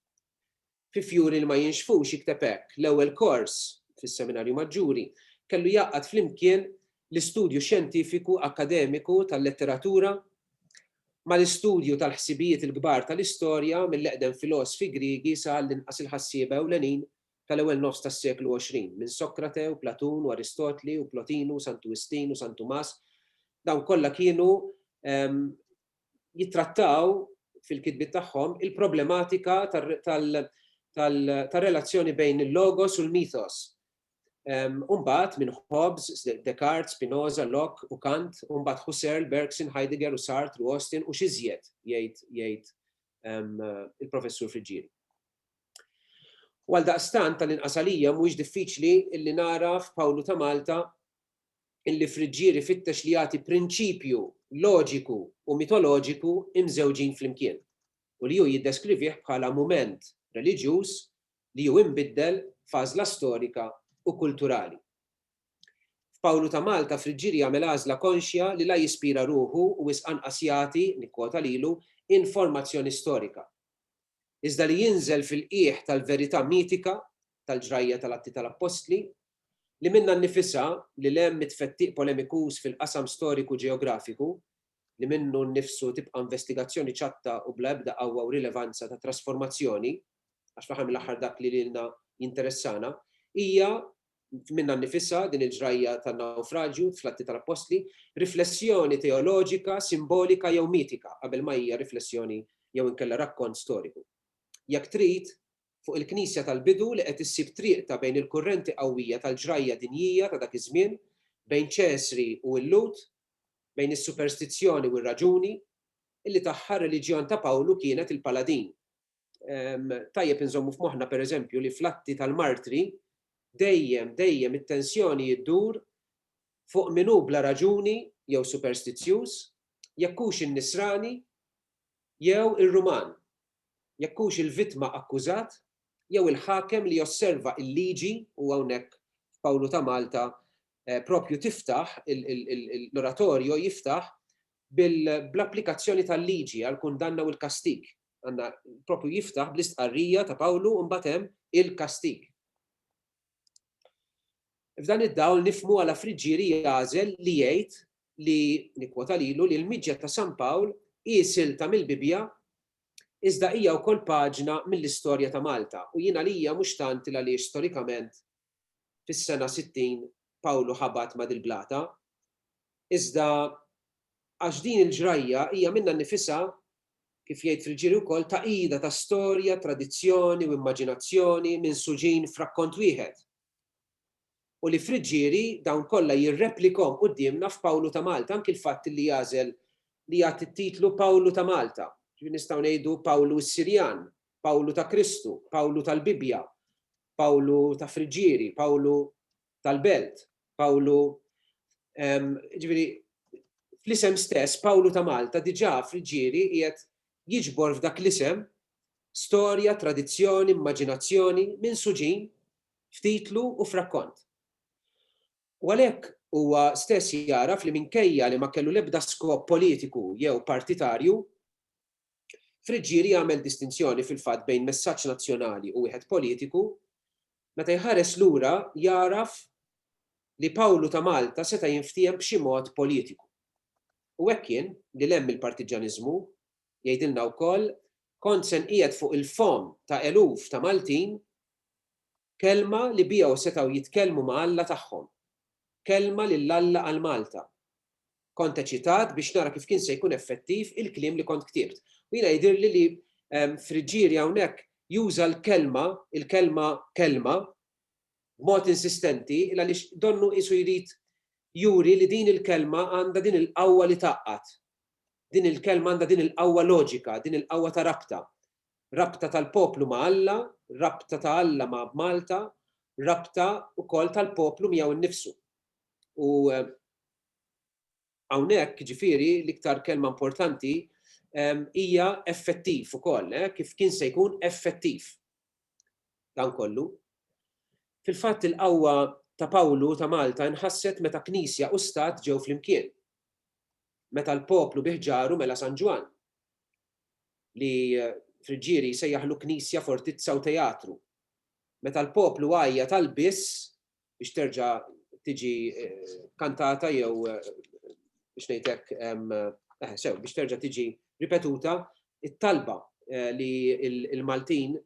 Fi Fjuri li ma jinxfux jikteb hekk, l-ewwel kors fis-Seminarju Maġġuri kellu jgħaqqad flimkien l-istudju xjentifiku akkademiku tal-letteratura mal-istudju tal-ħsibijiet il-kbar tal-istorja mill-eqdem filosfi Griegi sa għall-inqas il-ħassieba ewlenin tal-ewwel nofs tas-seklu 20, minn Sokrate u Platun u Aristotli u Plotinu u Santu Wistin u San Tumas, dawn kollha kienu jittrattaw fil-kitbiet tagħhom il-problematika tar-relazzjoni bejn il-logos u l-mythos. U mbagħad minn Hobbes, Descartes, Spinoza, Locke u Kant, u mbagħad Husserl, Bergson, Heidegger u Sartre u Austin u x'iżjed, jgħid il-Professur Friggieri. U għaldaqstant, tal-inqas għalija, mhuwiex diffiċli li nara f'Pawlu ta' Malta li Friġġier ifittex li jagħti prinċipju loġiku u mitoloġiku mżewġin flimkien, u li hu jiddeskrivih bħala mument reliġjuż li hu imbiddel f'għażla storika u kulturali. F'Pawlu ta' Malta, Friġġier jagħmel għażla konxja li la jispira ruħu u wisq anqas jagħti, nikkwota lilu, informazzjoni storika. iżda li jinżel fil-qiegħ tal-verità mitika tal-ġrajja tal-Atti tal-Appostli, li minnha nnifisha, lil hemm mit-tfettiq polemikuż fil-qasam storiku-ġeografiku, li minnu nnifsu tibqa' investigazzjoni ċatta u bla ebda qawwa u rilevanza ta' trasformazzjoni, għax fl-aħħar mill-aħħar dak li lilna jinteressana, hija, minnha nnifisha, din il-ġrajja tan-nawfraġju, fl-Atti tal-Appostli, riflessjoni teoloġika, simbolika jew mitika, qabel ma hija riflessjoni jew inkella rakkont storiku. Jekk trid, fuq il-Knisja tal-bidu li qed issib triqtha bejn il-kurrenti qawwija tal-ġrajja dinjija ta' dak iż-żmien, bejn Ċesri u l-Lhud, bejn is-superstizzjoni u r-raġuni, illi tagħha r-reliġjon ta' Pawlu kienet il-paladin. tajjeb inżommu f'moħħna pereżempju li fl-atti tal-martri dejjem, dejjem it-tensjoni jiddur fuq min hu bla raġuni jew superstizzjuż, jekk hux in-Nisrani jew ir-Ruman, jekk hux il-vittma akkużat jew il-ħakem li josserva l-liġi u hawnhekk f'Pawlu ta' Malta propju tiftaħ l-oratorjo jiftaħ bl-applikazzjoni tal-liġi għall-kundanna u l-kastig għandna propju jiftaħ bl-istqarrija ta' Pawlu u mbagħad hemm il-kastig. F'dan id-dawl nifmu għala friġġieri jagħżel li jgħid li nikkwota lilu li l-miġja ta' San Pawl hi silta mill-Bibbja iżda hija wkoll paġna mill-istorja ta' Malta u jien għalija mhux tant il għaliex storikament fis-sena 60 Pawlu ħabat ma' dil-blata, iżda għax din il-ġrajja hija minnha nnifisha, kif jgħid fil-ġiri wkoll, tagħqida ta' storja, tradizzjoni u immaġinazzjoni minsuġin f'rakkont wieħed, u li f'riġġieri dawn kollha jirreplikom quddiemna f'Pawlu ta' Malta, anki l-fatt li jagħżel li jagħti t-titlu Pawlu ta' Malta, ġifieri nistgħu ngħidu Pawlu s-Sirjan, Pawlu ta' Kristu, Pawlu tal-Bibbja, Pawlu ta' Friġġieri, Pawlu tal-Belt, Pawlu ġifieri fl-isem stess Pawlu ta' Malta diġà Friġġieri qiegħed jiġbor f'dak l-isem storja, tradizzjoni, immaġinazzjoni minsuġin f'titlu u f'rakkont. U għalhekk huwa stess jagħraf li minkejja li ma kellu l-ebda skop politiku jew partitarju, Friggieri jagħmel distinzjoni fil-fatt bejn messaġġ nazzjonali u wieħed politiku, meta jħares lura jagħraf li Pawlu ta' Malta seta' jinftiehem b'xi mod politiku. U hekk kien, lil hemm mill-partiġġaniżmu, jgħidilna wkoll, kont se nqiegħed fuq il-fomm ta' eluf ta' Maltin kelma li biha setgħu jitkellmu ma' Alla tagħhom, kelma lil Alla għal Malta. Kont eċitat biex nara kif kien se jkun effettiv il-kliem li kont ktibt. U jiena jidhirli li Friggieri hawnhekk juża l-kelma, il-kelma kelma, b'mod insistenti il-għaliex donnu qisu jrid juri li din il-kelma għandha din il-qawwa li tgħaqqad. Din il-kelma għandha din il-qawwa loġika, din il-qawwa ta' rabta. Rabta tal-poplu ma' Alla, rabta ta' Alla ma' Malta, rabta wkoll tal-poplu miegħu nnifsu. U Hawnhekk, jiġifieri, l-iktar kelma importanti hija effettiv ukoll, kif kien se jkun effettiv dan kollu. Fil-fatt il-qawwa ta' Pawlu ta' Malta nħasset meta Knisja u Stat ġew flimkien. Meta l-poplu bi ħġaru mela San Ġwann, li Friggieri jsejjaħlu knisja, fortizza u teatru. Meta l-poplu għajjat għall-biss biex terġa' tiġi kantata jew biex ngħidlek sew biex terġa' tiġi ripetuta it-talba li l-Maltin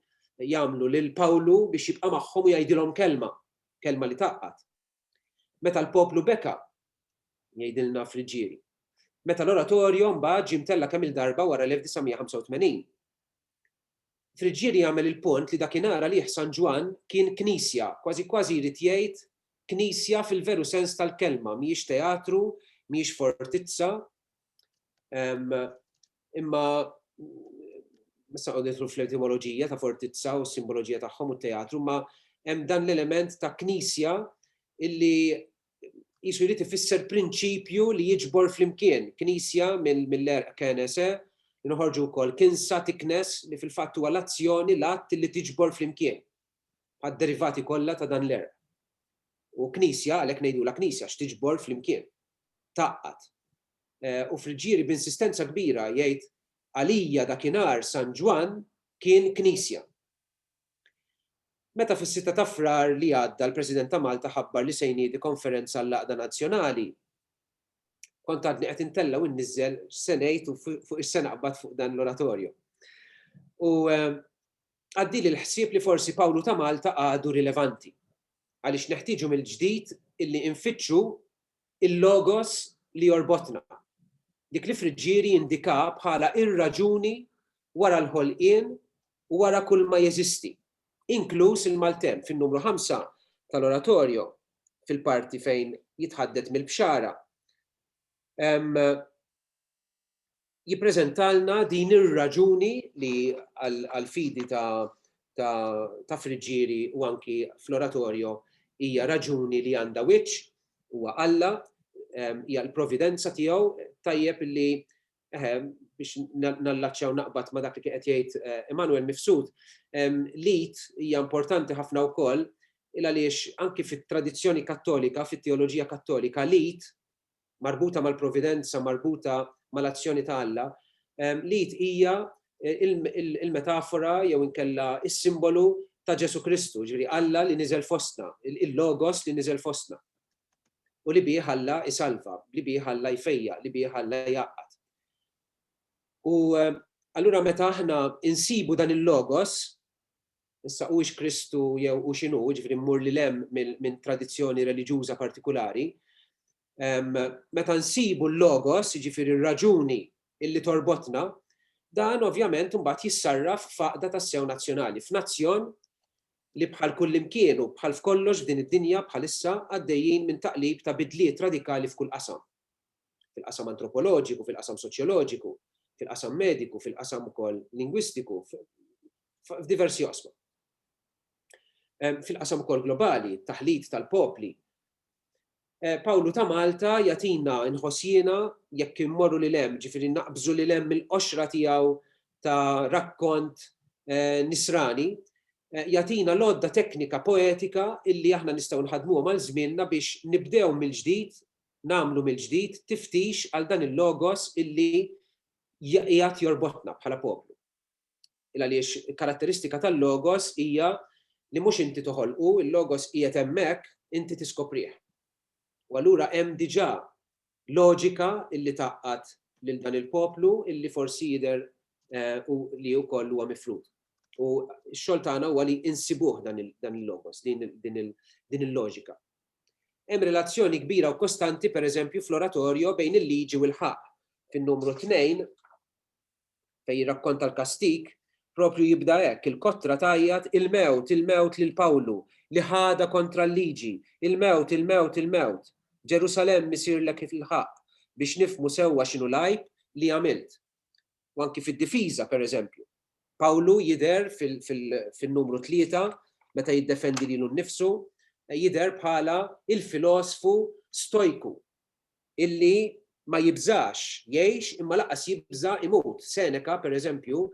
jagħmlu lil Pawlu biex jibqa' magħhom u jgħidilhom kelma, kelma li taqqat. Meta l-poplu beka, jgħidilna Friġġieri. Meta l-oratorju mbagħad ġie mtella kemm-il darba wara l-1985. Friggieri jagħmel il-punt li dakinhar għalih San Ġwann kien knisja, kważi kważi jrid jgħid knisja fil-veru sens tal-kelma, mhijiex teatru, mhijiex fortizza, imma ma se noqgħod nidħlu fl-etimoloġija ta' fortizza u s-simboloġija tagħhom u t-teatru, imma hemm dan l-element ta' knisja illi jisu jrid ifisser prinċipju li jiġbor flimkien knisja mill-erq kenese, nħorġu wkoll kinsa tiknes li fil-fatt huwa l-azzjoni l-att li tiġbor flimkien għad-derivati kollha ta' dan l-erq. U knisja għalhekk ngħidulha knisja x'tiġbor flimkien. Taqqat. Eh, u friġġieri b'insistenza kbira jgħid għalija dakinhar San Ġwann kien knisja. Meta fis-sitta ta' Frar li għadda l-President ta' Malta ħabbar li se jniedi konferenza għall-għaqda nazzjonali, kont għadni qed intella' u inniżżel x'se ngħid u fuq x'se naqbad fuq dan l-oratorju. U għaddieli l-ħsieb li forsi Pawlu ta' Malta għadu rilevanti, għaliex neħtieġu mill-ġdid illi infittxu Il-logos li jorbotna. Dik li Friggieri jindika bħala ir-raġuni wara l-ħolqien u wara kulma jeżisti, inkluż il-maltemp, fin-numru ħamsa tal-Oratorio, fil-parti fejn jitħaddet mill-bxara. jippreżentalna din ir-raġuni li għall-fidi ta' Friġġieri u anki fl-Oratorio hija raġuni li għandha wiċċ, huwa Alla, hija l-providenza tiegħu, tajjeb li biex nallaċċja u naqbad ma' dak li kien qed jgħid Emanuel Mifsud, l-id hija importanti ħafna wkoll il għaliex anki fit-tradizzjoni Kattolika, fit-teoloġija Kattolika, l-id marbuta mal-providenza, marbuta mal-azzjoni ta' Alla, l-id hija l-metafora jew inkella s-simbolu ta' Ġesù Kristu, jiġifieri Alla li niżel fostna, il-Logos li niżel fostna, u li bih Alla jsalva, li bih Alla jfejjaq, li bih Alla jgħaqqad. U allura meta aħna nsibu dan il-Logos, Issa hux Kristu jew hu x'inhu, jiġifieri mmur lil hemm minn tradizzjoni reliġjuża partikulari. Meta nsibu l-logos, jiġifieri r-raġuni illi torbotna, dan ovvjament imbagħad jissarraf f'għaqda tassew nazzjonali, f'nazzjon li bħal kullimkien u bħal f'kollox f'din id-dinja bħalissa għaddejjin minn taqlib ta' bidliet radikali f'kull qasam. Fil-qasam antropoloġiku, fil-qasam soċjoloġiku, fil-qasam mediku, fil-qasam ukoll lingwistiku, f'diversi oqsma. Fil-qasam ukoll globali, taħlit tal-popli, Pawlu ta' Malta jagħtina nħoss jiena jekk immorru lil hemm, ġifieri naqbżu lil hemm mill-qoxra tiegħu ta' rakkont nisrani, jagħtina l-għodda teknika poetika illi aħna nistgħu nħaddmuhom għal żmienna biex nibdew mill-ġdid, nagħmlu mill-ġdid tiftix għal dan il-logos illi qiegħed jorbotna bħala poplu. Għaliex karatteristika tal-Logos hija li mhux inti toħolqu, il-Logos qiegħed hemmhekk, inti tiskoprih. U allura hemm diġà loġika li tgħaqqad lil dan il-poplu li forsi jidher li wkoll huwa mifrud. U x-xogħol tagħna huwa li insibuh dan il-Logos, din il-loġika. Hemm relazzjoni kbira u kostanti, pereżempju, fl-Oratorjo bejn il-Liġi u l-ħaqq. Fin-numru tnejn, fejn jirrakkonta l-kastig, proprju jibda hekk, il-kotra tgħajjat, Il-mewt, il-mewt lil Pawlu, li ħadha kontra l-liġi! Il-mewt, il-mewt, il-mewt! Ġerusalemm isirlek il-ħaqq biex nifhmu sewwa x'inhu l-għajb li għamilt. U anki fid-difiża, per eżempju. Pawlu jidher fin-numru tlieta, meta jiddefendi lilu nnifsu, jidher bħala il-filosfu stojku. illi ma jibżax jgħix imma lanqas jibża' imut. Seneca, per eżempju,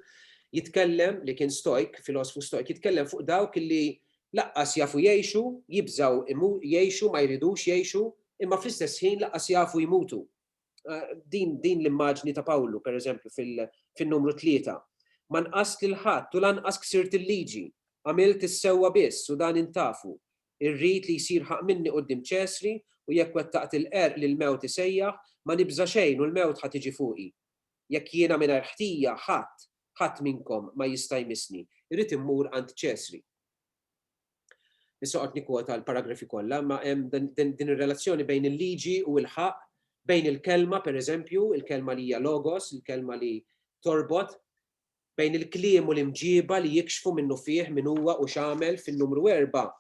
jitkellem, li kien Stojk, filosfu Stojk, jitkellem fuq dawk illi lanqas jafu jgħixu, jibżgħu jgħixu, ma jridux jgħixu, imma fl-istess ħin lanqas jafu jmutu. Din l-immaġni ta' Pawlu, per eżempju, fin-Numru Tlieta, Ma nqast lil ħadd u lanqas ksirt il-liġi, għamilt is-sewwa biss u dan intafu, Irrid li jsir ħaqq minni quddiem Ċesri, u jekk wettaqt il-qerq li l-mewt isejjaħ, ma nibża' xejn u l-mewt ħa tiġi fuqi. Jekk jiena mingħajr ħtija, ħadd, ħadd minnkom ma jista' jmissni. Irrid immur għand Ċesri. Issa noqgħod nikkwota l-paragrafi kollha, imma hemm din ir-relazzjoni bejn il-liġi u l-ħaqq, bejn il-kelma, pereżempju, il-kelma li hija logos, il-kelma li torbot, bejn il-kliem u l-imġieba li jikxfu minnufih min huwa u x'għamel fin-numru erba'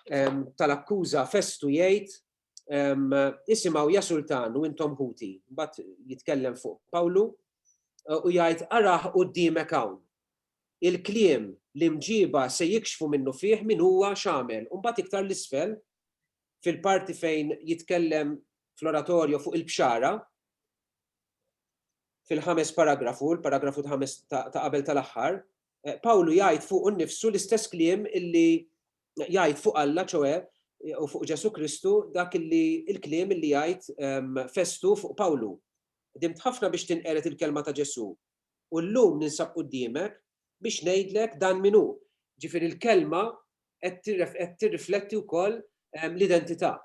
tal-akkuża Festu jgħid isimgħu ja sultan u intom ħuti. Mbagħad jitkellem fuq Pawlu u jgħid araħ qudiemek hawn. Il-kliem li mġiba se jikxfu minnu fih min huwa x'għamel. U mbagħad iktar l-isfel fil-parti fejn jitkellem fl-oratorju fuq il-bxara fil-ħames paragrafu, l-paragrafu ta' qabel tal-aħħar, Pawlu jgħid fuqu nnifsu l-istess kliem illi jgħid fuq Alla ċoe u fuq Ġesu Kristu dak illi il-kliem illi jgħid ehm, Festu fuq Pawlu. Dimt ħafna biex tinqered il-kelma ta' Ġesu. U llum ninsab qudiemek biex ngħidlek dan minnu. Ġifieri l-kelma qed tirrifletti wkoll ehm, l-identità.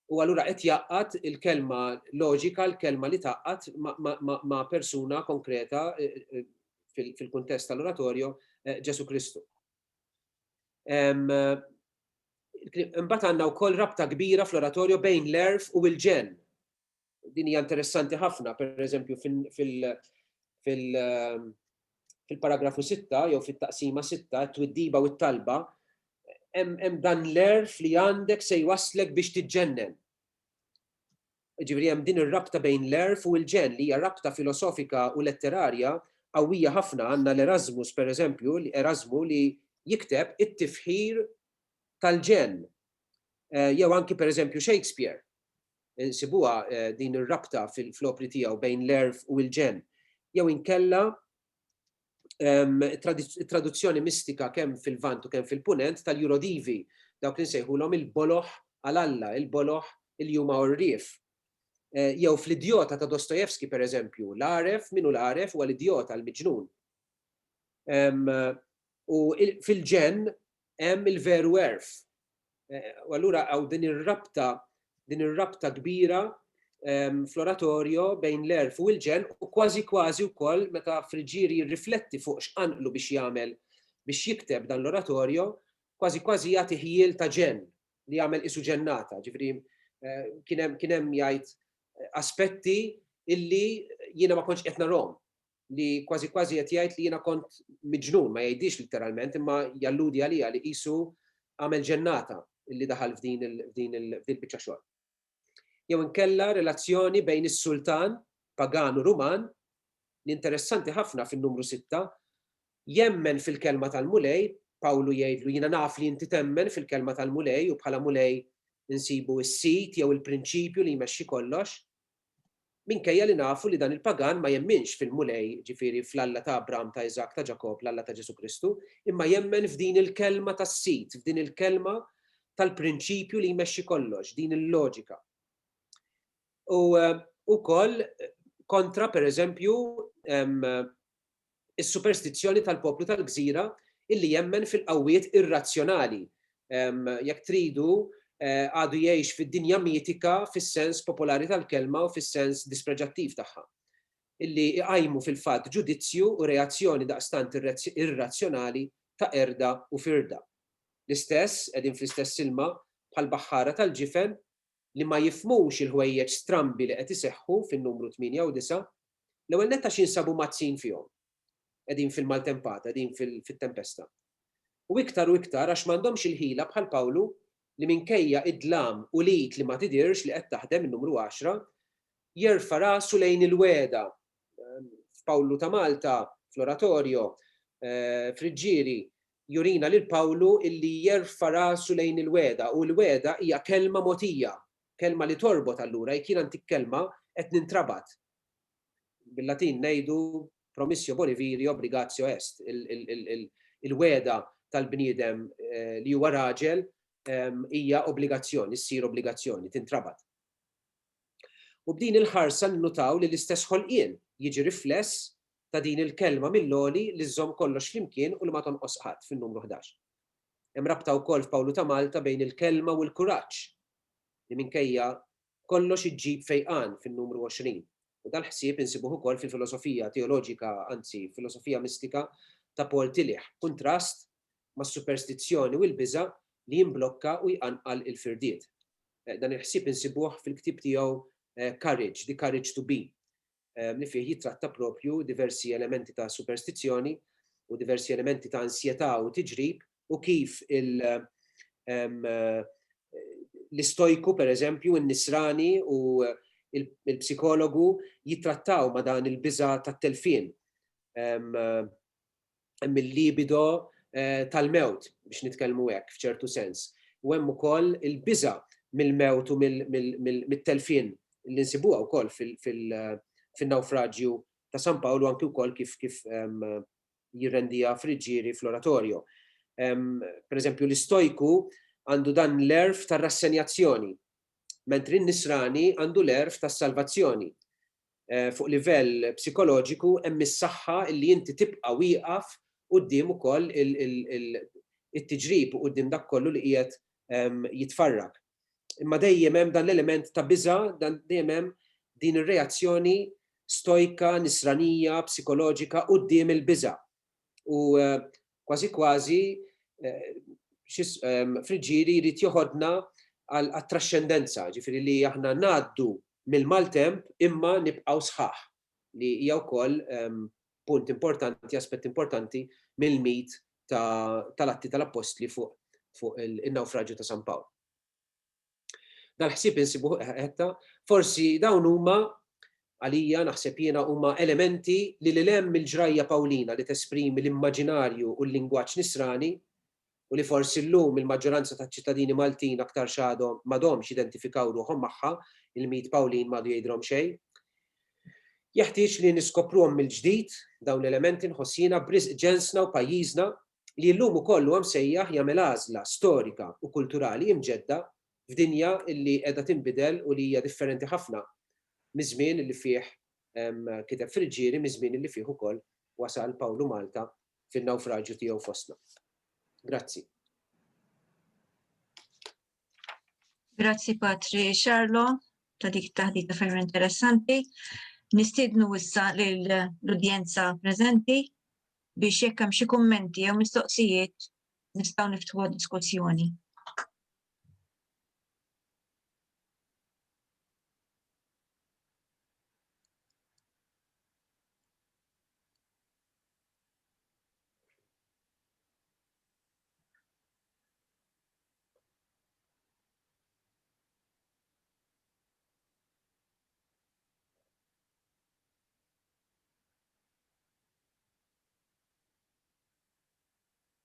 u allura qed jgħaqqad il-kelma loġika, l-kelma li tgħaqqad ma' persuna konkreta fil-kuntest tal-oratorju Ġesu Kristu. Imbagħad għandna wkoll rabta kbira fl-oratorju bejn l-għerf u l-ġenn. Din hija interessanti ħafna, pereżempju fil-paragrafu 6 jew fit-taqsima 6, it-twiddiba u t-talba, hemm dan l-għerf li għandek se jwasslek biex tiġġennen. Ġifieri hemm din ir-rabta bejn l-għerf u l-ġenn li hija rabta filosofika u letterarja qawwija ħafna. Għandna l-Erasmus, pereżempju, Erasmu li jikteb it-tifħir tal-ġenn. Jew anki pereżempju Shakespeare. Insibuha din ir-rabta fl-opri tiegħu bejn l-għerf u l-ġenn. Jew inkella it-traduzzjoni mistika kemm fil-Lvant u kemm fil-Punent tal-Eurodivi, dawk li nsejħulhom il-boloh għal Alla, il-boloh li huma għorrief. Jew fl-Idjota ta' Dostoevsky, pereżempju, l-għaref, min hu l-għaref, huwa l-idjota, l-miġnun. U fil-ġenn, hemm il-veru għerf. U allura hawn din ir-rabta, din ir-rabta kbira fl-oratorjo bejn l-għerf u l-ġenn u kważi kważi wkoll meta Friggieri jirrifletti fuq x'qanqlu biex jagħmel biex jikteb dan l-oratorjo, kważi kważi jagħti ħjiel ta' ġenn li jagħmel qisu ġennata, ġifieri kien hemm jgħid aspetti illi jiena ma kontx qed narahom. li kważi kważi qed jgħid li jiena kont miġnun, ma jgħidhiex litteralment imma jalludi għalija li qisu għamel ġennata li daħal f'din il-biċċa xogħol. Jew inkella relazzjoni bejn is-sultan pagan u Ruman li interessanti ħafna fin-numru sitta jemmen fil-kelma tal-Mulej, Pawlu jgħidlu jiena naf li inti temmen fil-kelma tal-Mulej u bħala Mulej insibu s-sid jew il-prinċipju li jmexxi kollox, Minkejja li nafu li dan il-pagan ma jemminx fil-Mulej, ġifieri fl-Alla ta' Abram, ta' Iżakk, ta' Ġakobb, l-Alla ta' Ġesù Kristu, imma jemmen f'din il-kelma tas-sid, f'din il-kelma tal-prinċipju li jmexxi kollox, din il-loġika. U ukoll kontra, pereżempju, is-superstizzjoni tal-poplu tal-gżira illi jemmen fil-qawwiet irrazzjonali, jekk tridu, għadu jgħix fid-dinja mitika fis-sens popolari tal-kelma u fis-sens dispreġattiv tagħha, illi jqajmu fil-fatt ġudizzju u reazzjoni daqstant irrazzjonali ta' qerda u firda. L-istess, qegħdin fl-istess ilma, bħall-baħħara tal-ġifen, li ma jifhmux il-ħwejjeġ strambi li qed iseħħu fin-numru 8 u 9, l-ewwel nett għax jinsabu mgħaddsin fihom. Qegħdin fil-maltempata, qegħdin fit-tempesta. U iktar u iktar għax m'għandhomx il-ħila bħal Pawlu li minkejja id-dlam u l-id li ma tidhirx li qed taħdem, in-numru 10, jerfa' rasu lejn il-wegħda. F'Pawlu ta' Malta, fl-Oratorio, f'Riġġieri, jurina lil Pawlu illi jerfa' rasu lejn il-wegħda u l-wegħda hija kelma mogħtija, kelma li torbot allura jekk jiena ntik kelma qed nintrabat. Bil-Latin ngħidu promissio boni viri obligatio est, il-wegħda tal-bniedem li huwa raġel hija obbligazzjoni, ssir obbligazzjoni, tintrabat. U b'din il-ħarsa nnutaw li l-istess ħolqien jiġi rifless ta' din il-kelma mill-għoli li żżomm kollox flimkien u li ma tonqos qatt, fin-numru ħdax. Hemm rabta wkoll f'Pawlu ta' Malta bejn il-kelma u l-kuraġġ, li minkejja kollox iġġib fejqan, fin-numru għoxrin. U dal-ħsieb insibuh ukoll fil-filosofija teoloġika, anzi, filosofija mistika ta' Paul Tillich, b'kuntrast mas-superstizzjoni u l-biża' li jimblokka u jqanqal il-firdiet. Dan il-ħsieb insibuh fil-ktieb tiegħu Courage, The Courage to Be, li fih jittratta proprju diversi elementi ta' superstizzjoni u diversi elementi ta' ansjetà u tiġrib u kif l-istojku, per eżempju, in-nisrani u l-psikologu jittrattaw ma' dan il-biża' tat-telfien. mill-libido tal-mewt, biex nitkellmu hekk f'ċertu sens. U hemm ukoll il-biża' mill-mewt u mit-telfien li nsibuha wkoll fin-nawfraġju ta' San Pawl u anki wkoll kif jirrendiha Friggieri fl-Oratorio. Per eżempju, l-Istojku għandu dan l-għerf tar-rassenjazzjoni, mentri n-Nisrani għandu l-għerf tas-salvazzjoni. fuq livell psikoloġiku hemm is-saħħa li inti tibqa' wieqaf quddiem ukoll it-tiġrib u quddiem dak kollu li qiegħed jitfarrak. Imma dejjem hemm dan l-element ta' biża', dejjem hemm din ir-reazzjoni stojka, nisranija, psikoloġika quddiem il-biża'. u kważi kważi friġġieri jrid joħodna għat-traxxendenza, ġifieri li aħna ngħaddu mill-maltemp imma nibqgħu sħaħ, li hija wkoll punt importanti, aspett importanti mill-mit tal-Atti tal-Appostli fuq in-nawfraġju ta' San Pawl. Dal-ħsieb insibuh ħetta, forsi dawn huma, għalija, naħseb jiena, huma elementi li lil hemm mill-ġrajja Pawlina li tesprimi l-immaġinarju u l-lingwaġġ Nisrani, u li forsi llum il-maġġoranza taċ-ċittadini Maltin aktarx għadhom m'għadhomx jidentifikaw ruħhom magħha, il-mit Pawlin m'għadu jgħidilhom xejn. Jeħtieġ li niskopruhom mill-ġdid, dawn l-elementi, nħoss jiena, b'risq ġensna u pajjiżna, li llum ukoll huwa msejjaħ jagħmel għażla storika u kulturali imġedda f'dinja li qiegħda tinbidel u li hija differenti ħafna miż-żmien li fih kiteb Friggieri, miż-żmien li fih ukoll wasal Pawlu Malta fin-nawfraġju tiegħu fostna. Grazzi. Grazzi Patri Xarlo ta' dik it-taħdita ferm interessanti. Nistiednu issa lill-udjenza preżenti biex jekk hemm xi kummenti jew mistoqsijiet nistgħu niftħuha diskussjoni.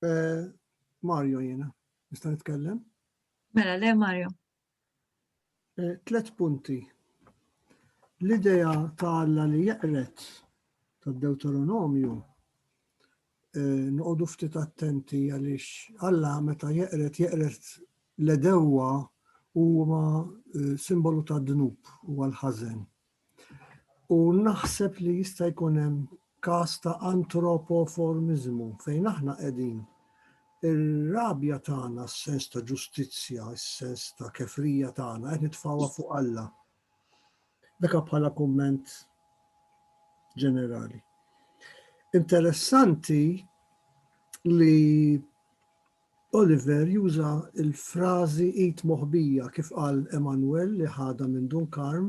Eh, Mario jena, nista' nitkellem? Mela, le Mario. Eh, tlet punti. L-idea ta' Alla li jeqret tad Deuteronomju Noqogħdu ftit attenti għaliex Alla meta jeqred jeqred l-għedewwa huma simbolu tad-dnub u għall-ħażen. U naħseb li jista' jkun hemm każ ta' antropoformiżmu fejn aħna qegħdin ir-rabja tagħna, s-sens ta' ġustizzja, s-sens ta' kefrija tagħna qed nitfgħuha fuq Alla. Dak bħala kumment ġenerali. Interessanti li Oliver juża l-frażi id moħbija kif qal Emanuel li ħadha minn Dunkarm,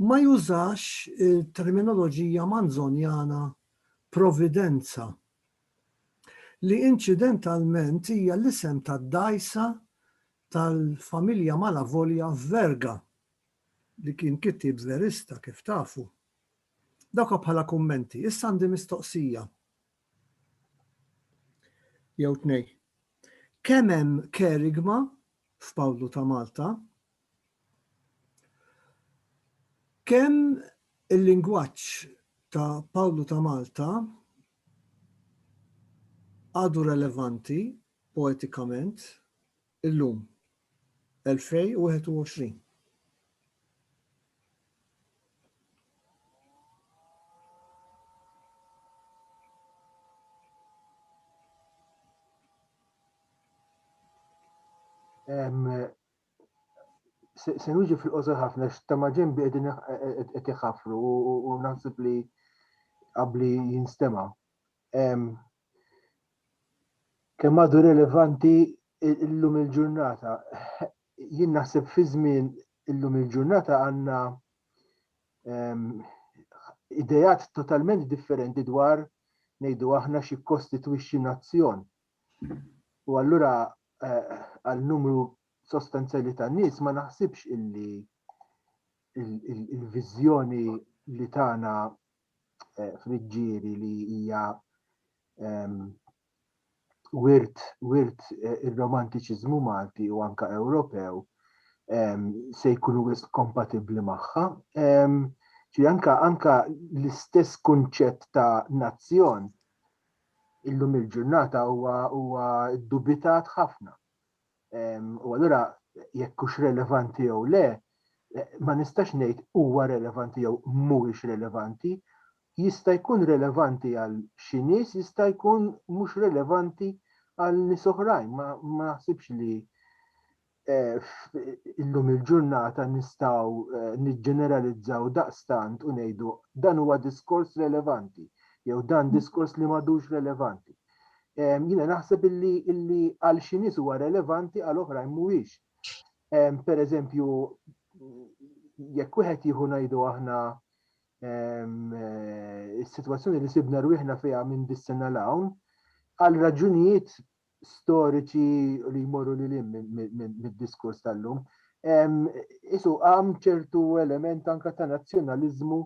ma jużax il-terminoloġija Manzonjana providenza li inċidentalment hija l-isem tad-dgħajsa tal-familja Malavolja Verga li kien kittieb verista kif tafu. Dawk bħala kummenti. Issa għandi mistoqsija jew tnej. Kemm hemm kerigma f'Pawlu ta' Malta? Kemm il-lingwaġġ ta' Pawlu ta' Malta għadu relevanti Poetikament, illum, 2021. Se nuġi fil-qosor ħafna, ta' maġen bi għedin qed iħafru u naħseb li qabli jinstema. Kemm għadu relevanti illum il-ġurnata. Jien naħseb fi żmien illum il-ġurnata għandna ehm, idejat totalment differenti dwar ngħidu aħna xi kostitwixxi nazzjon. U allura eh, għal numru sostanzjali ta' nies ma naħsibx illi il-viżjoni li tagħna eh, friġġieri li hija ehm, wirt wirt eh, ir-romantiċiżmu Malti u anka Ewropew ehm, se jkunu wis kompatibbli magħha. Ehm, ġi anka anka l-istess kunċett ta' nazzjon illum il-ġurnata huwa huwa dubitat ħafna. U allura jekk hux relevanti jew le, ma nistax ngħid huwa relevanti jew mhuwiex relevanti, jista' jkun relevanti għal xi nies, jista' jkun mhux relevanti għal nies oħrajn. Ma naħsibx li illum il-ġurnata nistgħu eh, niġġeneralizzaw daqstant u ngħidu dan huwa diskors relevanti jew dan mm. diskors li m'għadux relevanti. Jiena naħseb illi għal xi nies huwa relevanti għal oħrajn mhuwiex. Pereżempju, jekk wieħed jieħu ngħidu aħna is-sitwazzjoni li sibna rwieħna fiha minn dis-sena l hawn, għal raġunijiet storiċi li jmorru li lim mid-diskurs tal-lum. Isu għam ċertu element anka ta' nazzjonalizmu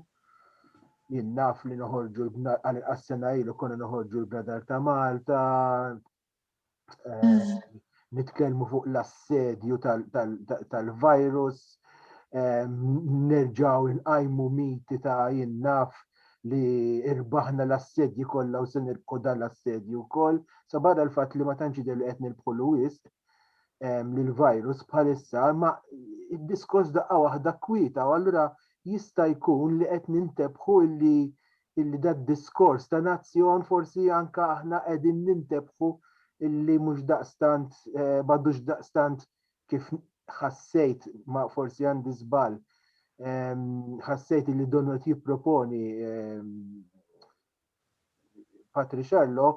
Jien naf li noħorġu l-bnad għal inqas sena ilu konna noħorġu l-bnadar ta' Malta, eh, mm. nitkellmu fuq l-assedju tal-virus, eh, nerġaw inqajmu miti ta' jien naf li irbaħna l-assedji kollha u se nirbħu dan l-assedju wkoll, sa barra l-fatt li ma tantx li qed nirbħu l-wisq, l-virus bħalissa, ma id-diskors daqqa waħda kwita u allura jista' jkun li qed nintebħu illi illi dad diskors ta' nazzjon forsi anka aħna qegħdin nintebħu illi mhux daqstant eh, m'għadux daqstant kif ħassejt ma forsi għandi żball ħassejt illi donot jipproponi Patriciello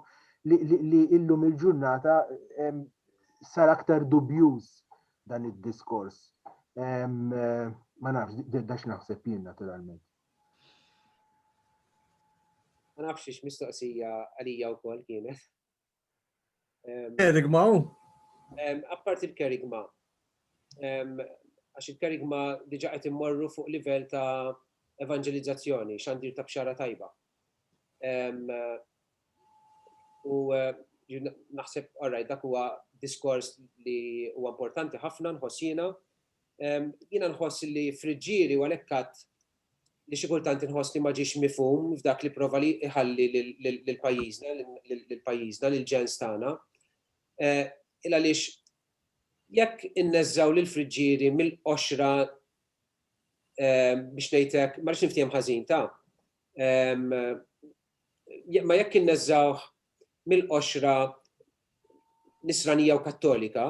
li, li, li illum il-ġurnata sar aktar dubjuż dan id-diskors. Ma nafx, dax naħseb jien naturalment. Ma nafx ix mistoqsija għalija wkoll kienet. Kerigma u? Appart il-kerigma. Għax il-kerigma diġa qed immorru fuq livell ta' evangelizzazzjoni, xandir ta' bxara tajba. U naħseb, orraj, dak huwa diskors li huwa importanti ħafna nħossina. Jiena nħoss li friġġieri u għalhekk li xi kultant inħoss li ma ġiex mifhum f'dak li prova li jħalli lil pajjiżna, lil pajjiżna, lil ġens tagħna. Il għaliex jekk inneżżgħu lill-friġġieri mill-qoxra biex ngħid hekk, ma rridx niftiehem ħażin ta', ma jekk inneżżgħuh mill-qoxra Nisranija u Kattolika,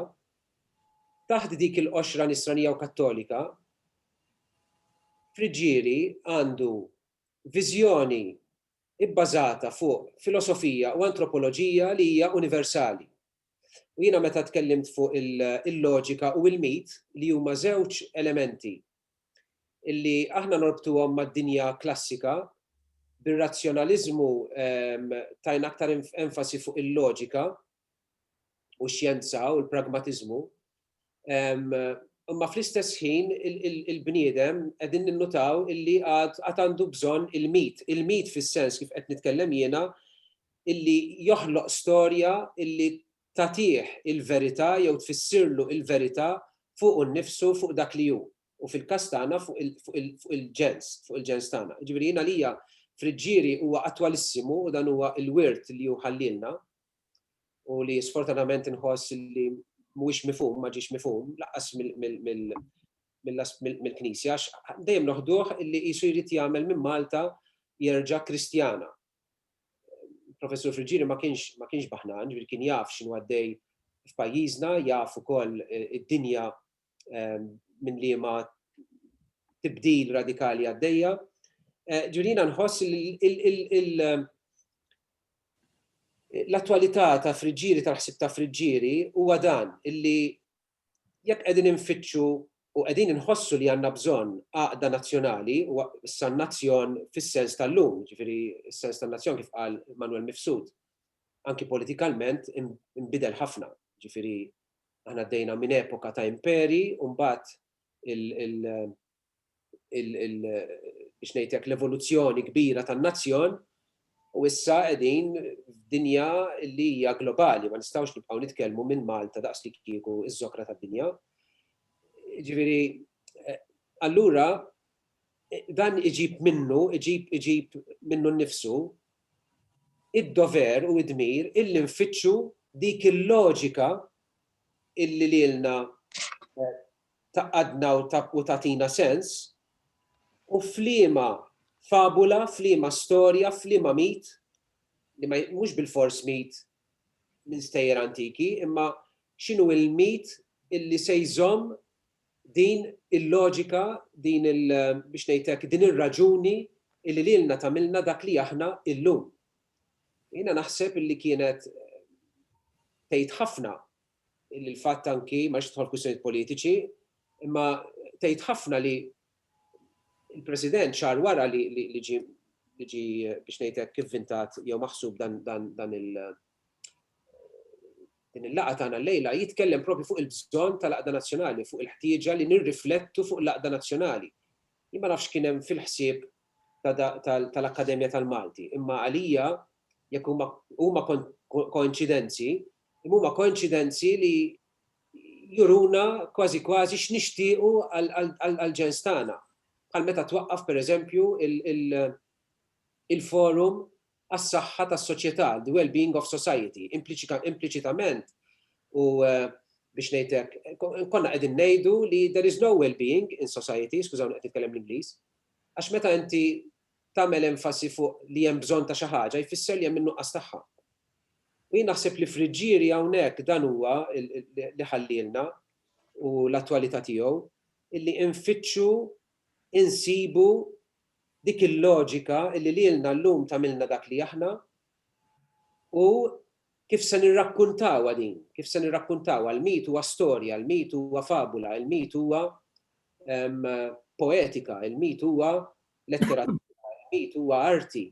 taħt dik il-qoxra Nisranija u Kattolika, Friggieri għandu viżjoni bbażata fuq filosofija u antropoloġija li hija universali. U jiena meta tkellimt fuq il-loġika u l-mit li huma żewġ elementi li aħna norbtuhom mad-dinja klassika, bir-razzjonaliżmu tajna aktar enfasi fuq il-loġika u x-xjenza u l-pragmatiżmu, imma fl-istess ħin il-bniedem qegħdin ninnutaw illi għad għandu bżonn il-mit, il-mit fis-sens kif qed nitkellem jiena illi joħloq storja illi tatih il-verità jew tfissirlu il-verità fuq u nnifsu fuq dak li hu u fil-każ tagħna fuq il-ġens, fuq il-ġens tagħna. Ġifieri jiena lija friġġieri huwa attwalissimu u dan huwa l-wirt li hu ħallilna u li sfortunatament inħoss li mhuwiex mifhum, ma ġiex mifhum, laqqas mill-Knisja, dejjem noħduh li qisu jrid jagħmel minn Malta jerġa' Kristjana. Professur Friġġieri ma kienx ma kienx baħnan, ġifieri kien jaf x'inhu għaddej f'pajjiżna, jaf ukoll id-dinja minn liema tibdil radikali għaddejja. Ġurina nħoss l-attualità ta' friġġieri tal-ħsib ta' friġġieri huwa dan illi jekk qegħdin infittxu u qegħdin inħossu li għandna bżonn għaqda nazzjonali u issa nazzjon fis-sens tal-lum, ġifieri s-sens tan-nazzjon kif qal Manuel Mifsud, anki politikalment imbidel ħafna, ġifieri Aħna għaddejna minn epoka ta' imperi u mbagħad biex ngħidlek l-evoluzzjoni kbira tan-nazzjon u issa qegħdin f'dinja li hija globali, ma nistgħux nibqgħu nitkellmu minn Malta daqs li kieku ż-żokra tad-dinja. Ġifieri, eh, allura dan iġib minnu, iġib iġib minnu nnifsu id-dover u d-dmir illi nfittxu dik il-loġika illi lilna tgħaqqadna u tagħtina sens, u f'liema fabula, f'liema storja, f'liema mit, li mhux bilfors mit minn stejjer antiki, imma x'inhu l-mit illi se jżomm Din il-loġika, din il, biex ngħid hekk, din ir-raġuni illi lilna tagħmilna dak li aħna illum. Jiena naħseb illi kienet tgħid ħafna illi l-fatt anki, ma rridx nidħol f'kwistjonijiet politiċi, imma tgħid ħafna li il-President xahar wara li ġie biex ngħid hekk ivvintat jew maħsub dan il, din il-laqgħa tagħna llejla jitkellem propju fuq il-bżonn tal-għaqda nazzjonali, fuq il-ħtieġa li nirriflettu fuq l-għaqda nazzjonali. Jien ma nafx x'kien hemm fil-ħsieb tal-Akkademja tal-Malti, imma għalija jekk huma huma koinċidenzi, imma huma koinċidenzi li juruna kważi kważi x'nixtiequ għall-ġens tagħna. Bħal meta twaqqaf pereżempju il-forum għas-saħħa tas-soċjetà, the well-being of society, impliċitament u biex ngħid hekk, konna qegħdin ngħidu li there is no well-being in society, skużawni qed nitkellem bl-Ingliż, għax meta inti tagħmel enfasi fuq li hemm bżonn ta' xi ħaġa jfisser li hemm in-nuqqas tagħha. U jien naħseb li Friġġieri hawnhekk dan huwa li ħallielna u l-attwalità tiegħu illi infittxu, insibu Dik il-loġika illi lilna llum tagħmilna dak li aħna u kif se nirrakkuntawha din, kif se nirrakkuntawha. Il-mit huwa storja, il-mit huwa fabula, il-mit huwa poetika, il-mit huwa letteratura, il-mit huwa arti.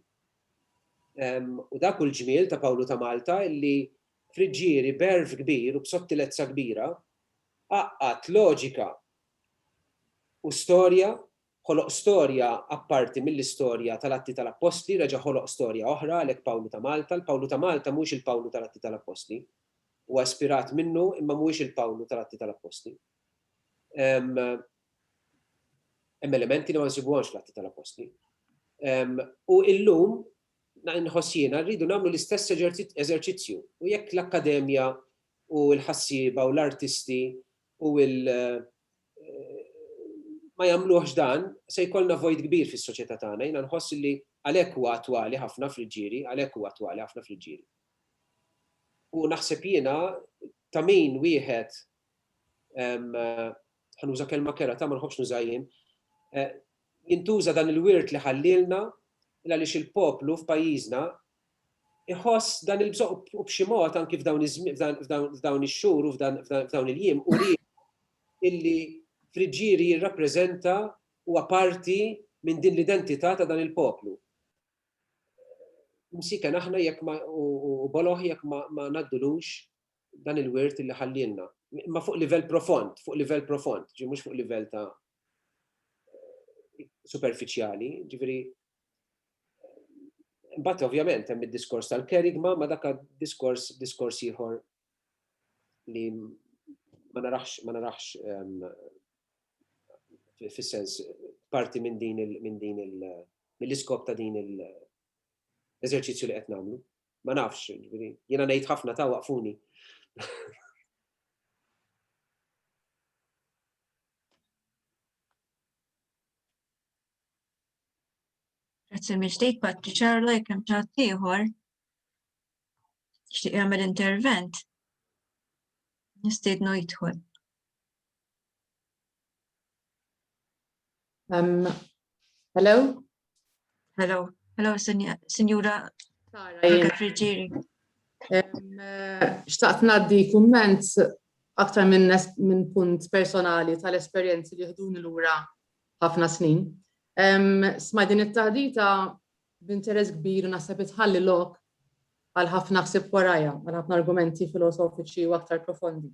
U dak hu l-ġmiel ta' Pawlu ta' Malta illi Friġġieri b'għerf kbir u b'sottilezza kbira għaqqad loġika u storja Ħoloq storja apparti mill-istorja tal-Atti tal-Appostli, reġa' ħoloq storja oħra, għalhekk Pawlu ta' Malta. Il-Pawlu ta' Malta mhuwiex il-Pawlu tal-Atti tal-Appostli. Huwa ispirat minnu imma mhuwiex il-Pawlu tal-Atti tal-Appostli. Hemm elementi li ma nsibuhomx fl-Atti tal-Appostli. U illum, nħoss jiena, rridu nagħmlu l-istess eżerċizzju. U jekk l-akkademja u l-ħassieba u l-artisti u ma jagħmluhx dan, se jkollna vojt kbir fis-soċjetà tagħna. Jiena nħoss li għalhekk huwa attwali ħafna fl-ġiri, għalhekk huwa attwali ħafna fl-ġiri. U naħseb jiena ta' min wieħed ħanuża kelma kera ta' ma nħobbx nuża jien, eh, jintuża dan il-wirt li ħallilna għaliex il-poplu f'pajjiżna iħoss dan il-bżonn u b'xi mod anki f'dawn f'dawn ix-xhur u f'dawn il-jiem uri illi Friġġieri jirrappreżenta huwa parti minn din l-identità ta' dan il-poplu. Msiken aħna jekk ma u boloh jekk ma ma ngħaddulux dan il-wirt illi ħallielna. Imma fuq livell profond, fuq livell profond, ġifieri mhux fuq livell ta' superfiċjali, ġifieri Imbagħad ovvjament hemm id-diskors tal-kerigma ma dak diskors diskors ieħor li ma narax ma narax ehm, fis-sens parti minn din il minn din il mill-iskop ta' din l-eżerċizzju li qed nagħmlu. Ma nafx, jiena ngħid ħafna ta' waqfuni. Grazzi mill-ġdid Patri Ċarla jekk hemm ċatt ieħor. Xtieq jagħmel intervent. Nistiednu jidħol. Um, hello? Hello. Hello, Signora Frigieri. Um, uh, xtaqt naddi kumment aktar minn min punt personali tal-esperjenzi li ħduni l-ura ħafna snin. Smajt din it-taħdita b'interess kbir u naħseb itħalli lok għal ħafna ħsieb warajha, għal ħafna argumenti filosofiċi u aktar profondi.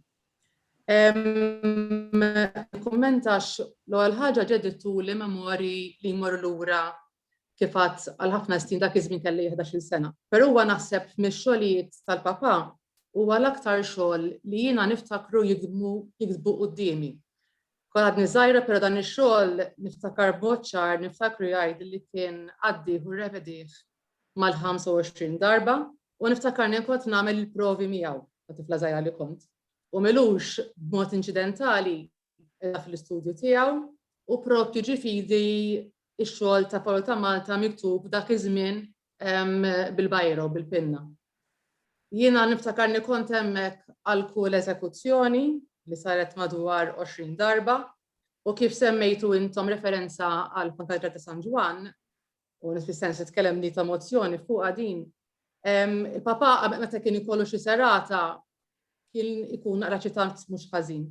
Kummentax l-ewwel ħaġa ġedittu li memori li jmorru lura kif għad għal ħafna snin dak iż-żmien kelli 11-il sena. Però huwa naħseb mix-xogħlijiet tal-papà huwa l-aktar xogħol li jiena niftakru jidmu jiktbu quddiemi. Kont għadni żgħira però dan ix-xogħol niftakar b'mod ċar niftakru jgħid li kien għaddih u rrevedih mal-25 darba u niftakarni nkont nagħmel il-provi miegħu ta' tifla żgħira li kont. U milux b'mod inċidentali qiegħda fl-istudju tiegħu u prop tiġi fidi x-xogħol ta' Paolo ta' Malta miktub dak iż-żmien bil-bajro, bil-pinna. Jiena niftakarni kont hemmhekk għal kull eżekuzzjoni li saret madwar 20 darba u kif semmejtu intom referenza għal Konkadra ta' San Ġwann, u nif fis-sens itkellem li ta' mozzjoni fuqha din. Il-papa meta kien ikollu xi serata kien ikun naqra ċitant mhux ħażin.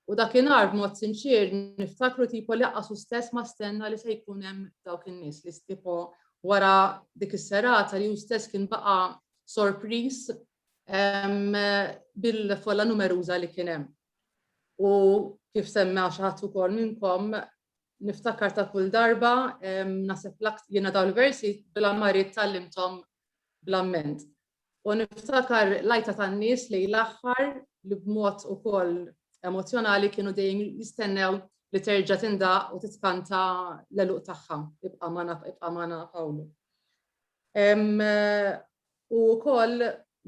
U dakinhar b'mod sinċier niftakru tipo li aqqasu stess ma stenna li se jkun hemm dawk in-nies li tipo wara dik is-serata li hu stess kien baqa' sorpriż bil-folla numeruża li kien hemm. U kif semma xi ħadd ukoll minnkom Niftakar ta' kull darba, naħseb l-aktar jiena dawn il-versi bil-ammarijiet tgħallimthom bl-amment. U niftakar l-għajta tan-nies lejn l-aħħar li b'mod ukoll emozzjonali kienu dejjem jistennew li terġa' tindaqq u titkanta l-għeluq tagħha, ibqa' magħna, ibqa' magħna Pawlu. U wkoll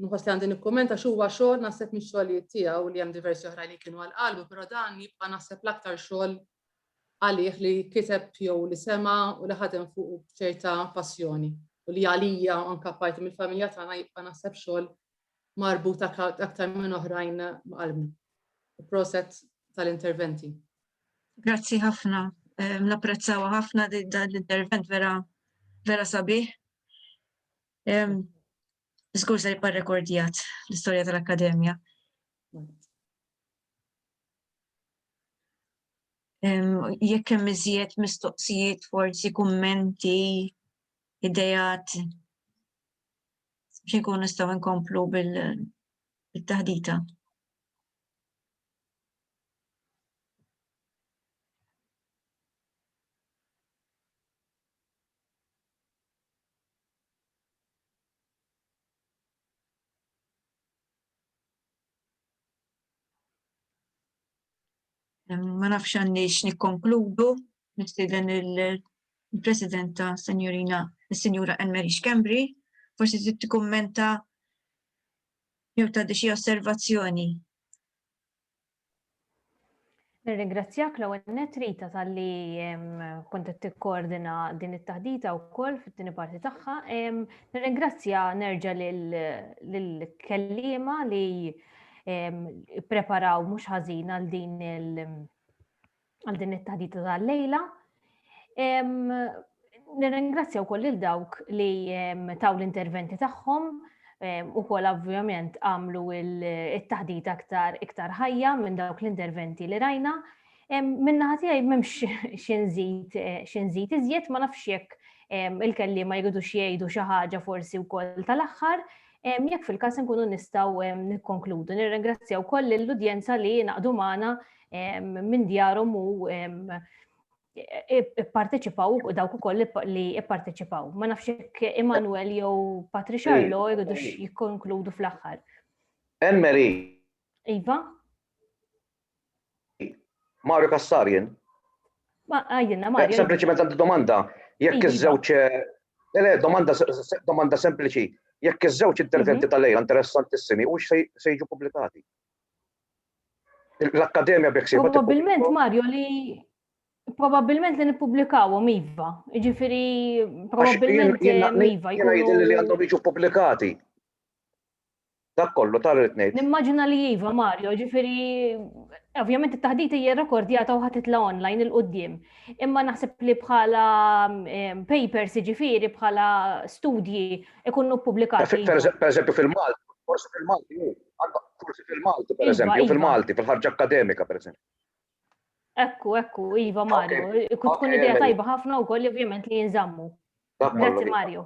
nħoss li għandi nikkumenta x'huwa xogħol naħseb mix-xogħlijiet tiegħu li hemm diversi oħra li kienu għal qalbu, però dan jibqa' naħseb l-aktar xogħol għalih li kiteb jew li sema' u li ħadem fuqu b'ċerta passjoni u li għalija u anka parti mill-familja tagħna jibqa' naħseb xogħol marbut aktar minn oħrajn ma' qalbna. Proset tal-interventi. Grazzi ħafna. Napprezzawa ħafna dan l-intervent vera vera sabiħ. Żgur se jibqa' rekordjat l-istorja tal-Akkademja. Jekk hemm iżjed mistoqsijiet, forsi kummenti, idejat, biex nkun nistgħu nkomplu bil-taħdita. Ma nafx għanni x'nikkonkludu, nistieden il-Presidenta Senjorina, il-Senjura Anne-Marie Schembri, forsi trid tikkummenta jew tagħti xi osservazzjoni. Nirringrazzjak l-ewwel nett Rita talli kont qed tikkoordina din it-taħdita wkoll fit-tieni parti tagħha. Nirringrazzja nerġa' lill-kelliema li preparaw mhux ħażin għal din għal din it-taħdita tal-lejla. Nirringrazzja wkoll lil dawk li taw l-interventi tagħhom u kol ovvjament għamlu il-taħdit aktar iktar ħajja minn dawk l-interventi li rajna. Minna ħatijaj memx xinżit iżjed ma nafx jekk il-kelli ma jgħidu xiejdu xaħġa forsi u kol tal-axħar jekk fil-kas nkunu nistaw nikkonkludu. Nirringrazzjaw koll l-udjenza li naqdu maħna minn djarhom u ipparteċipaw u dawk ukoll li ipparteċipaw. Ma nafx jekk Emanuel jew Patricia Arlo jridu jikkonkludu fl-aħħar. Emmeri. Iva? Mario Kassarien. Ma għajdinna eh, Mario. Sempliċiment għandi domanda. Jekk iva. iż-żewġ eh, eh, le, domanda domanda sempliċi. Jekk iż-żewġ interventi mhm. tal-lejla interessantissimi u se jiġu pubblikati. L-Akkademja b'hekk sejba. Probabilment Mario li Probabilment li nippublikawhom iva. Jiġifieri probabilment iva. Jiena jidhirli li għandhom jiġu pubblikati. Dak kollu tar ngħid. Nimmaġina li iva Mario, ġifieri ovvjament it-taħdita hija rekordjata u ħatitla online il qudiem Imma naħseb li bħala ehm, papers jiġifieri bħala studji ikunu ppubblikati. Per eżempju fil-Malti, forsi fil-Malti Forsi fil-Malti, per eżempju, iva, iva. fil-Malti, fil-ħarġa akademika, per eżempju. Ekku, ekku, Iva Mario, kut tkun idea tajba ħafna u koll ovvjament li jinżammu. Grazzi Mario.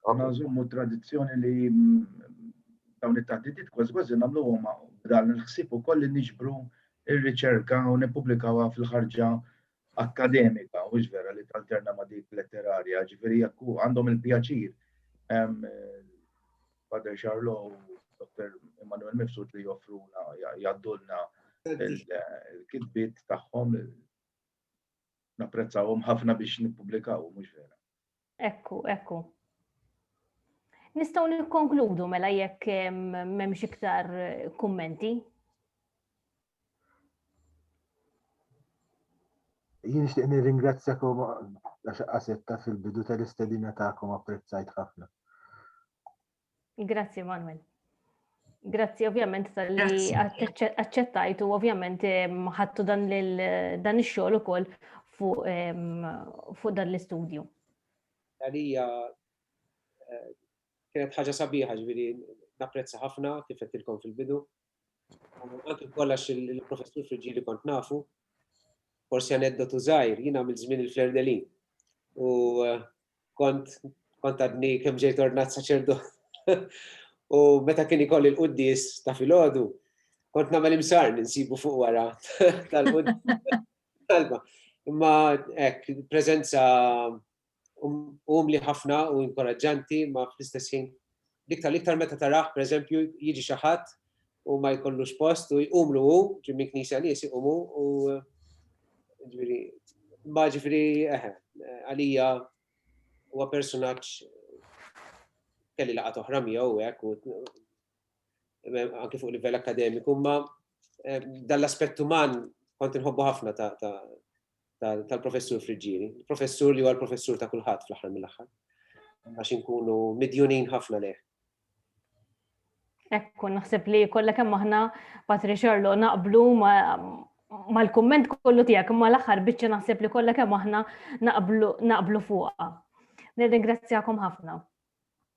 Għanna nżommu tradizjoni li mm, dawn it-taħdidiet kważi kważi namlu għoma dan il-ħsib u koll li nġbru il-riċerka u nipublikawa fil-ħarġa akkademika, mhux vera li talterna ma' dik letterarja, ġifieri jekk għandhom il-pjaċir Father Charlot u Dr. Immanuel Mifsud li joffruna, jaddulna il-kitbit tagħhom napprezzawhom ħafna biex nippubblikaw, mhux vera. Ekku, ekku. Nistgħu nikkonkludu mela jekk m'hemmx iktar kummenti. Jien nixtieq nirringrazzjakom għax qasetta fil-bidu tal-istedina tagħkom apprezzajt ħafna. Grazzi Manuel. Grazzi ovvjament tal-li accettajt u ovvjament ħattu dan il-xogħol ukoll fuq dan l-istudju. Għalija eh, kienet ħaġa sabiħa ġviri napprezza ħafna kif qedtilkom fil-bidu Anki kollax il-professur Friġili kont nafu, forsi aneddotu zaħir, jina għamil zmin il-Flerdelin. U eh, kont kont għadni kem ġejt ordnat saċerdu. U meta kien ikolli l-quddis ta' filgħodu, kont nagħmel imsar ninsibu fuq wara tal-quddis. Imma hekk preżenza umli ħafna u inkoraġġanti ma fl-istess ħin l-iktar l-iktar meta taraħ pereżempju jiġi xi ħadd u ma jkollux post u jqumlu hu, ġimmi knisja nies iqumu u ġifieri ma ġifieri eħe, għalija huwa personaġġ kelli laqgħat oħra miegħu hekk u anke fuq livell akademiku, ma dan l-aspett uman kont inħobbu ħafna ta' tal-professur Friġġieri. Professur li huwa l-professur ta' kulħadd fl-aħħar mill-aħħar. Għax inkunu midjunin ħafna leh. Ekku, naħseb li kollha kemm aħna Patri Xorlu naqblu mal-kumment kollu tiegħek imma l-aħħar biċċa naħseb li kollha kemm aħna naqblu fuqha. Nirringrazzjakom ħafna.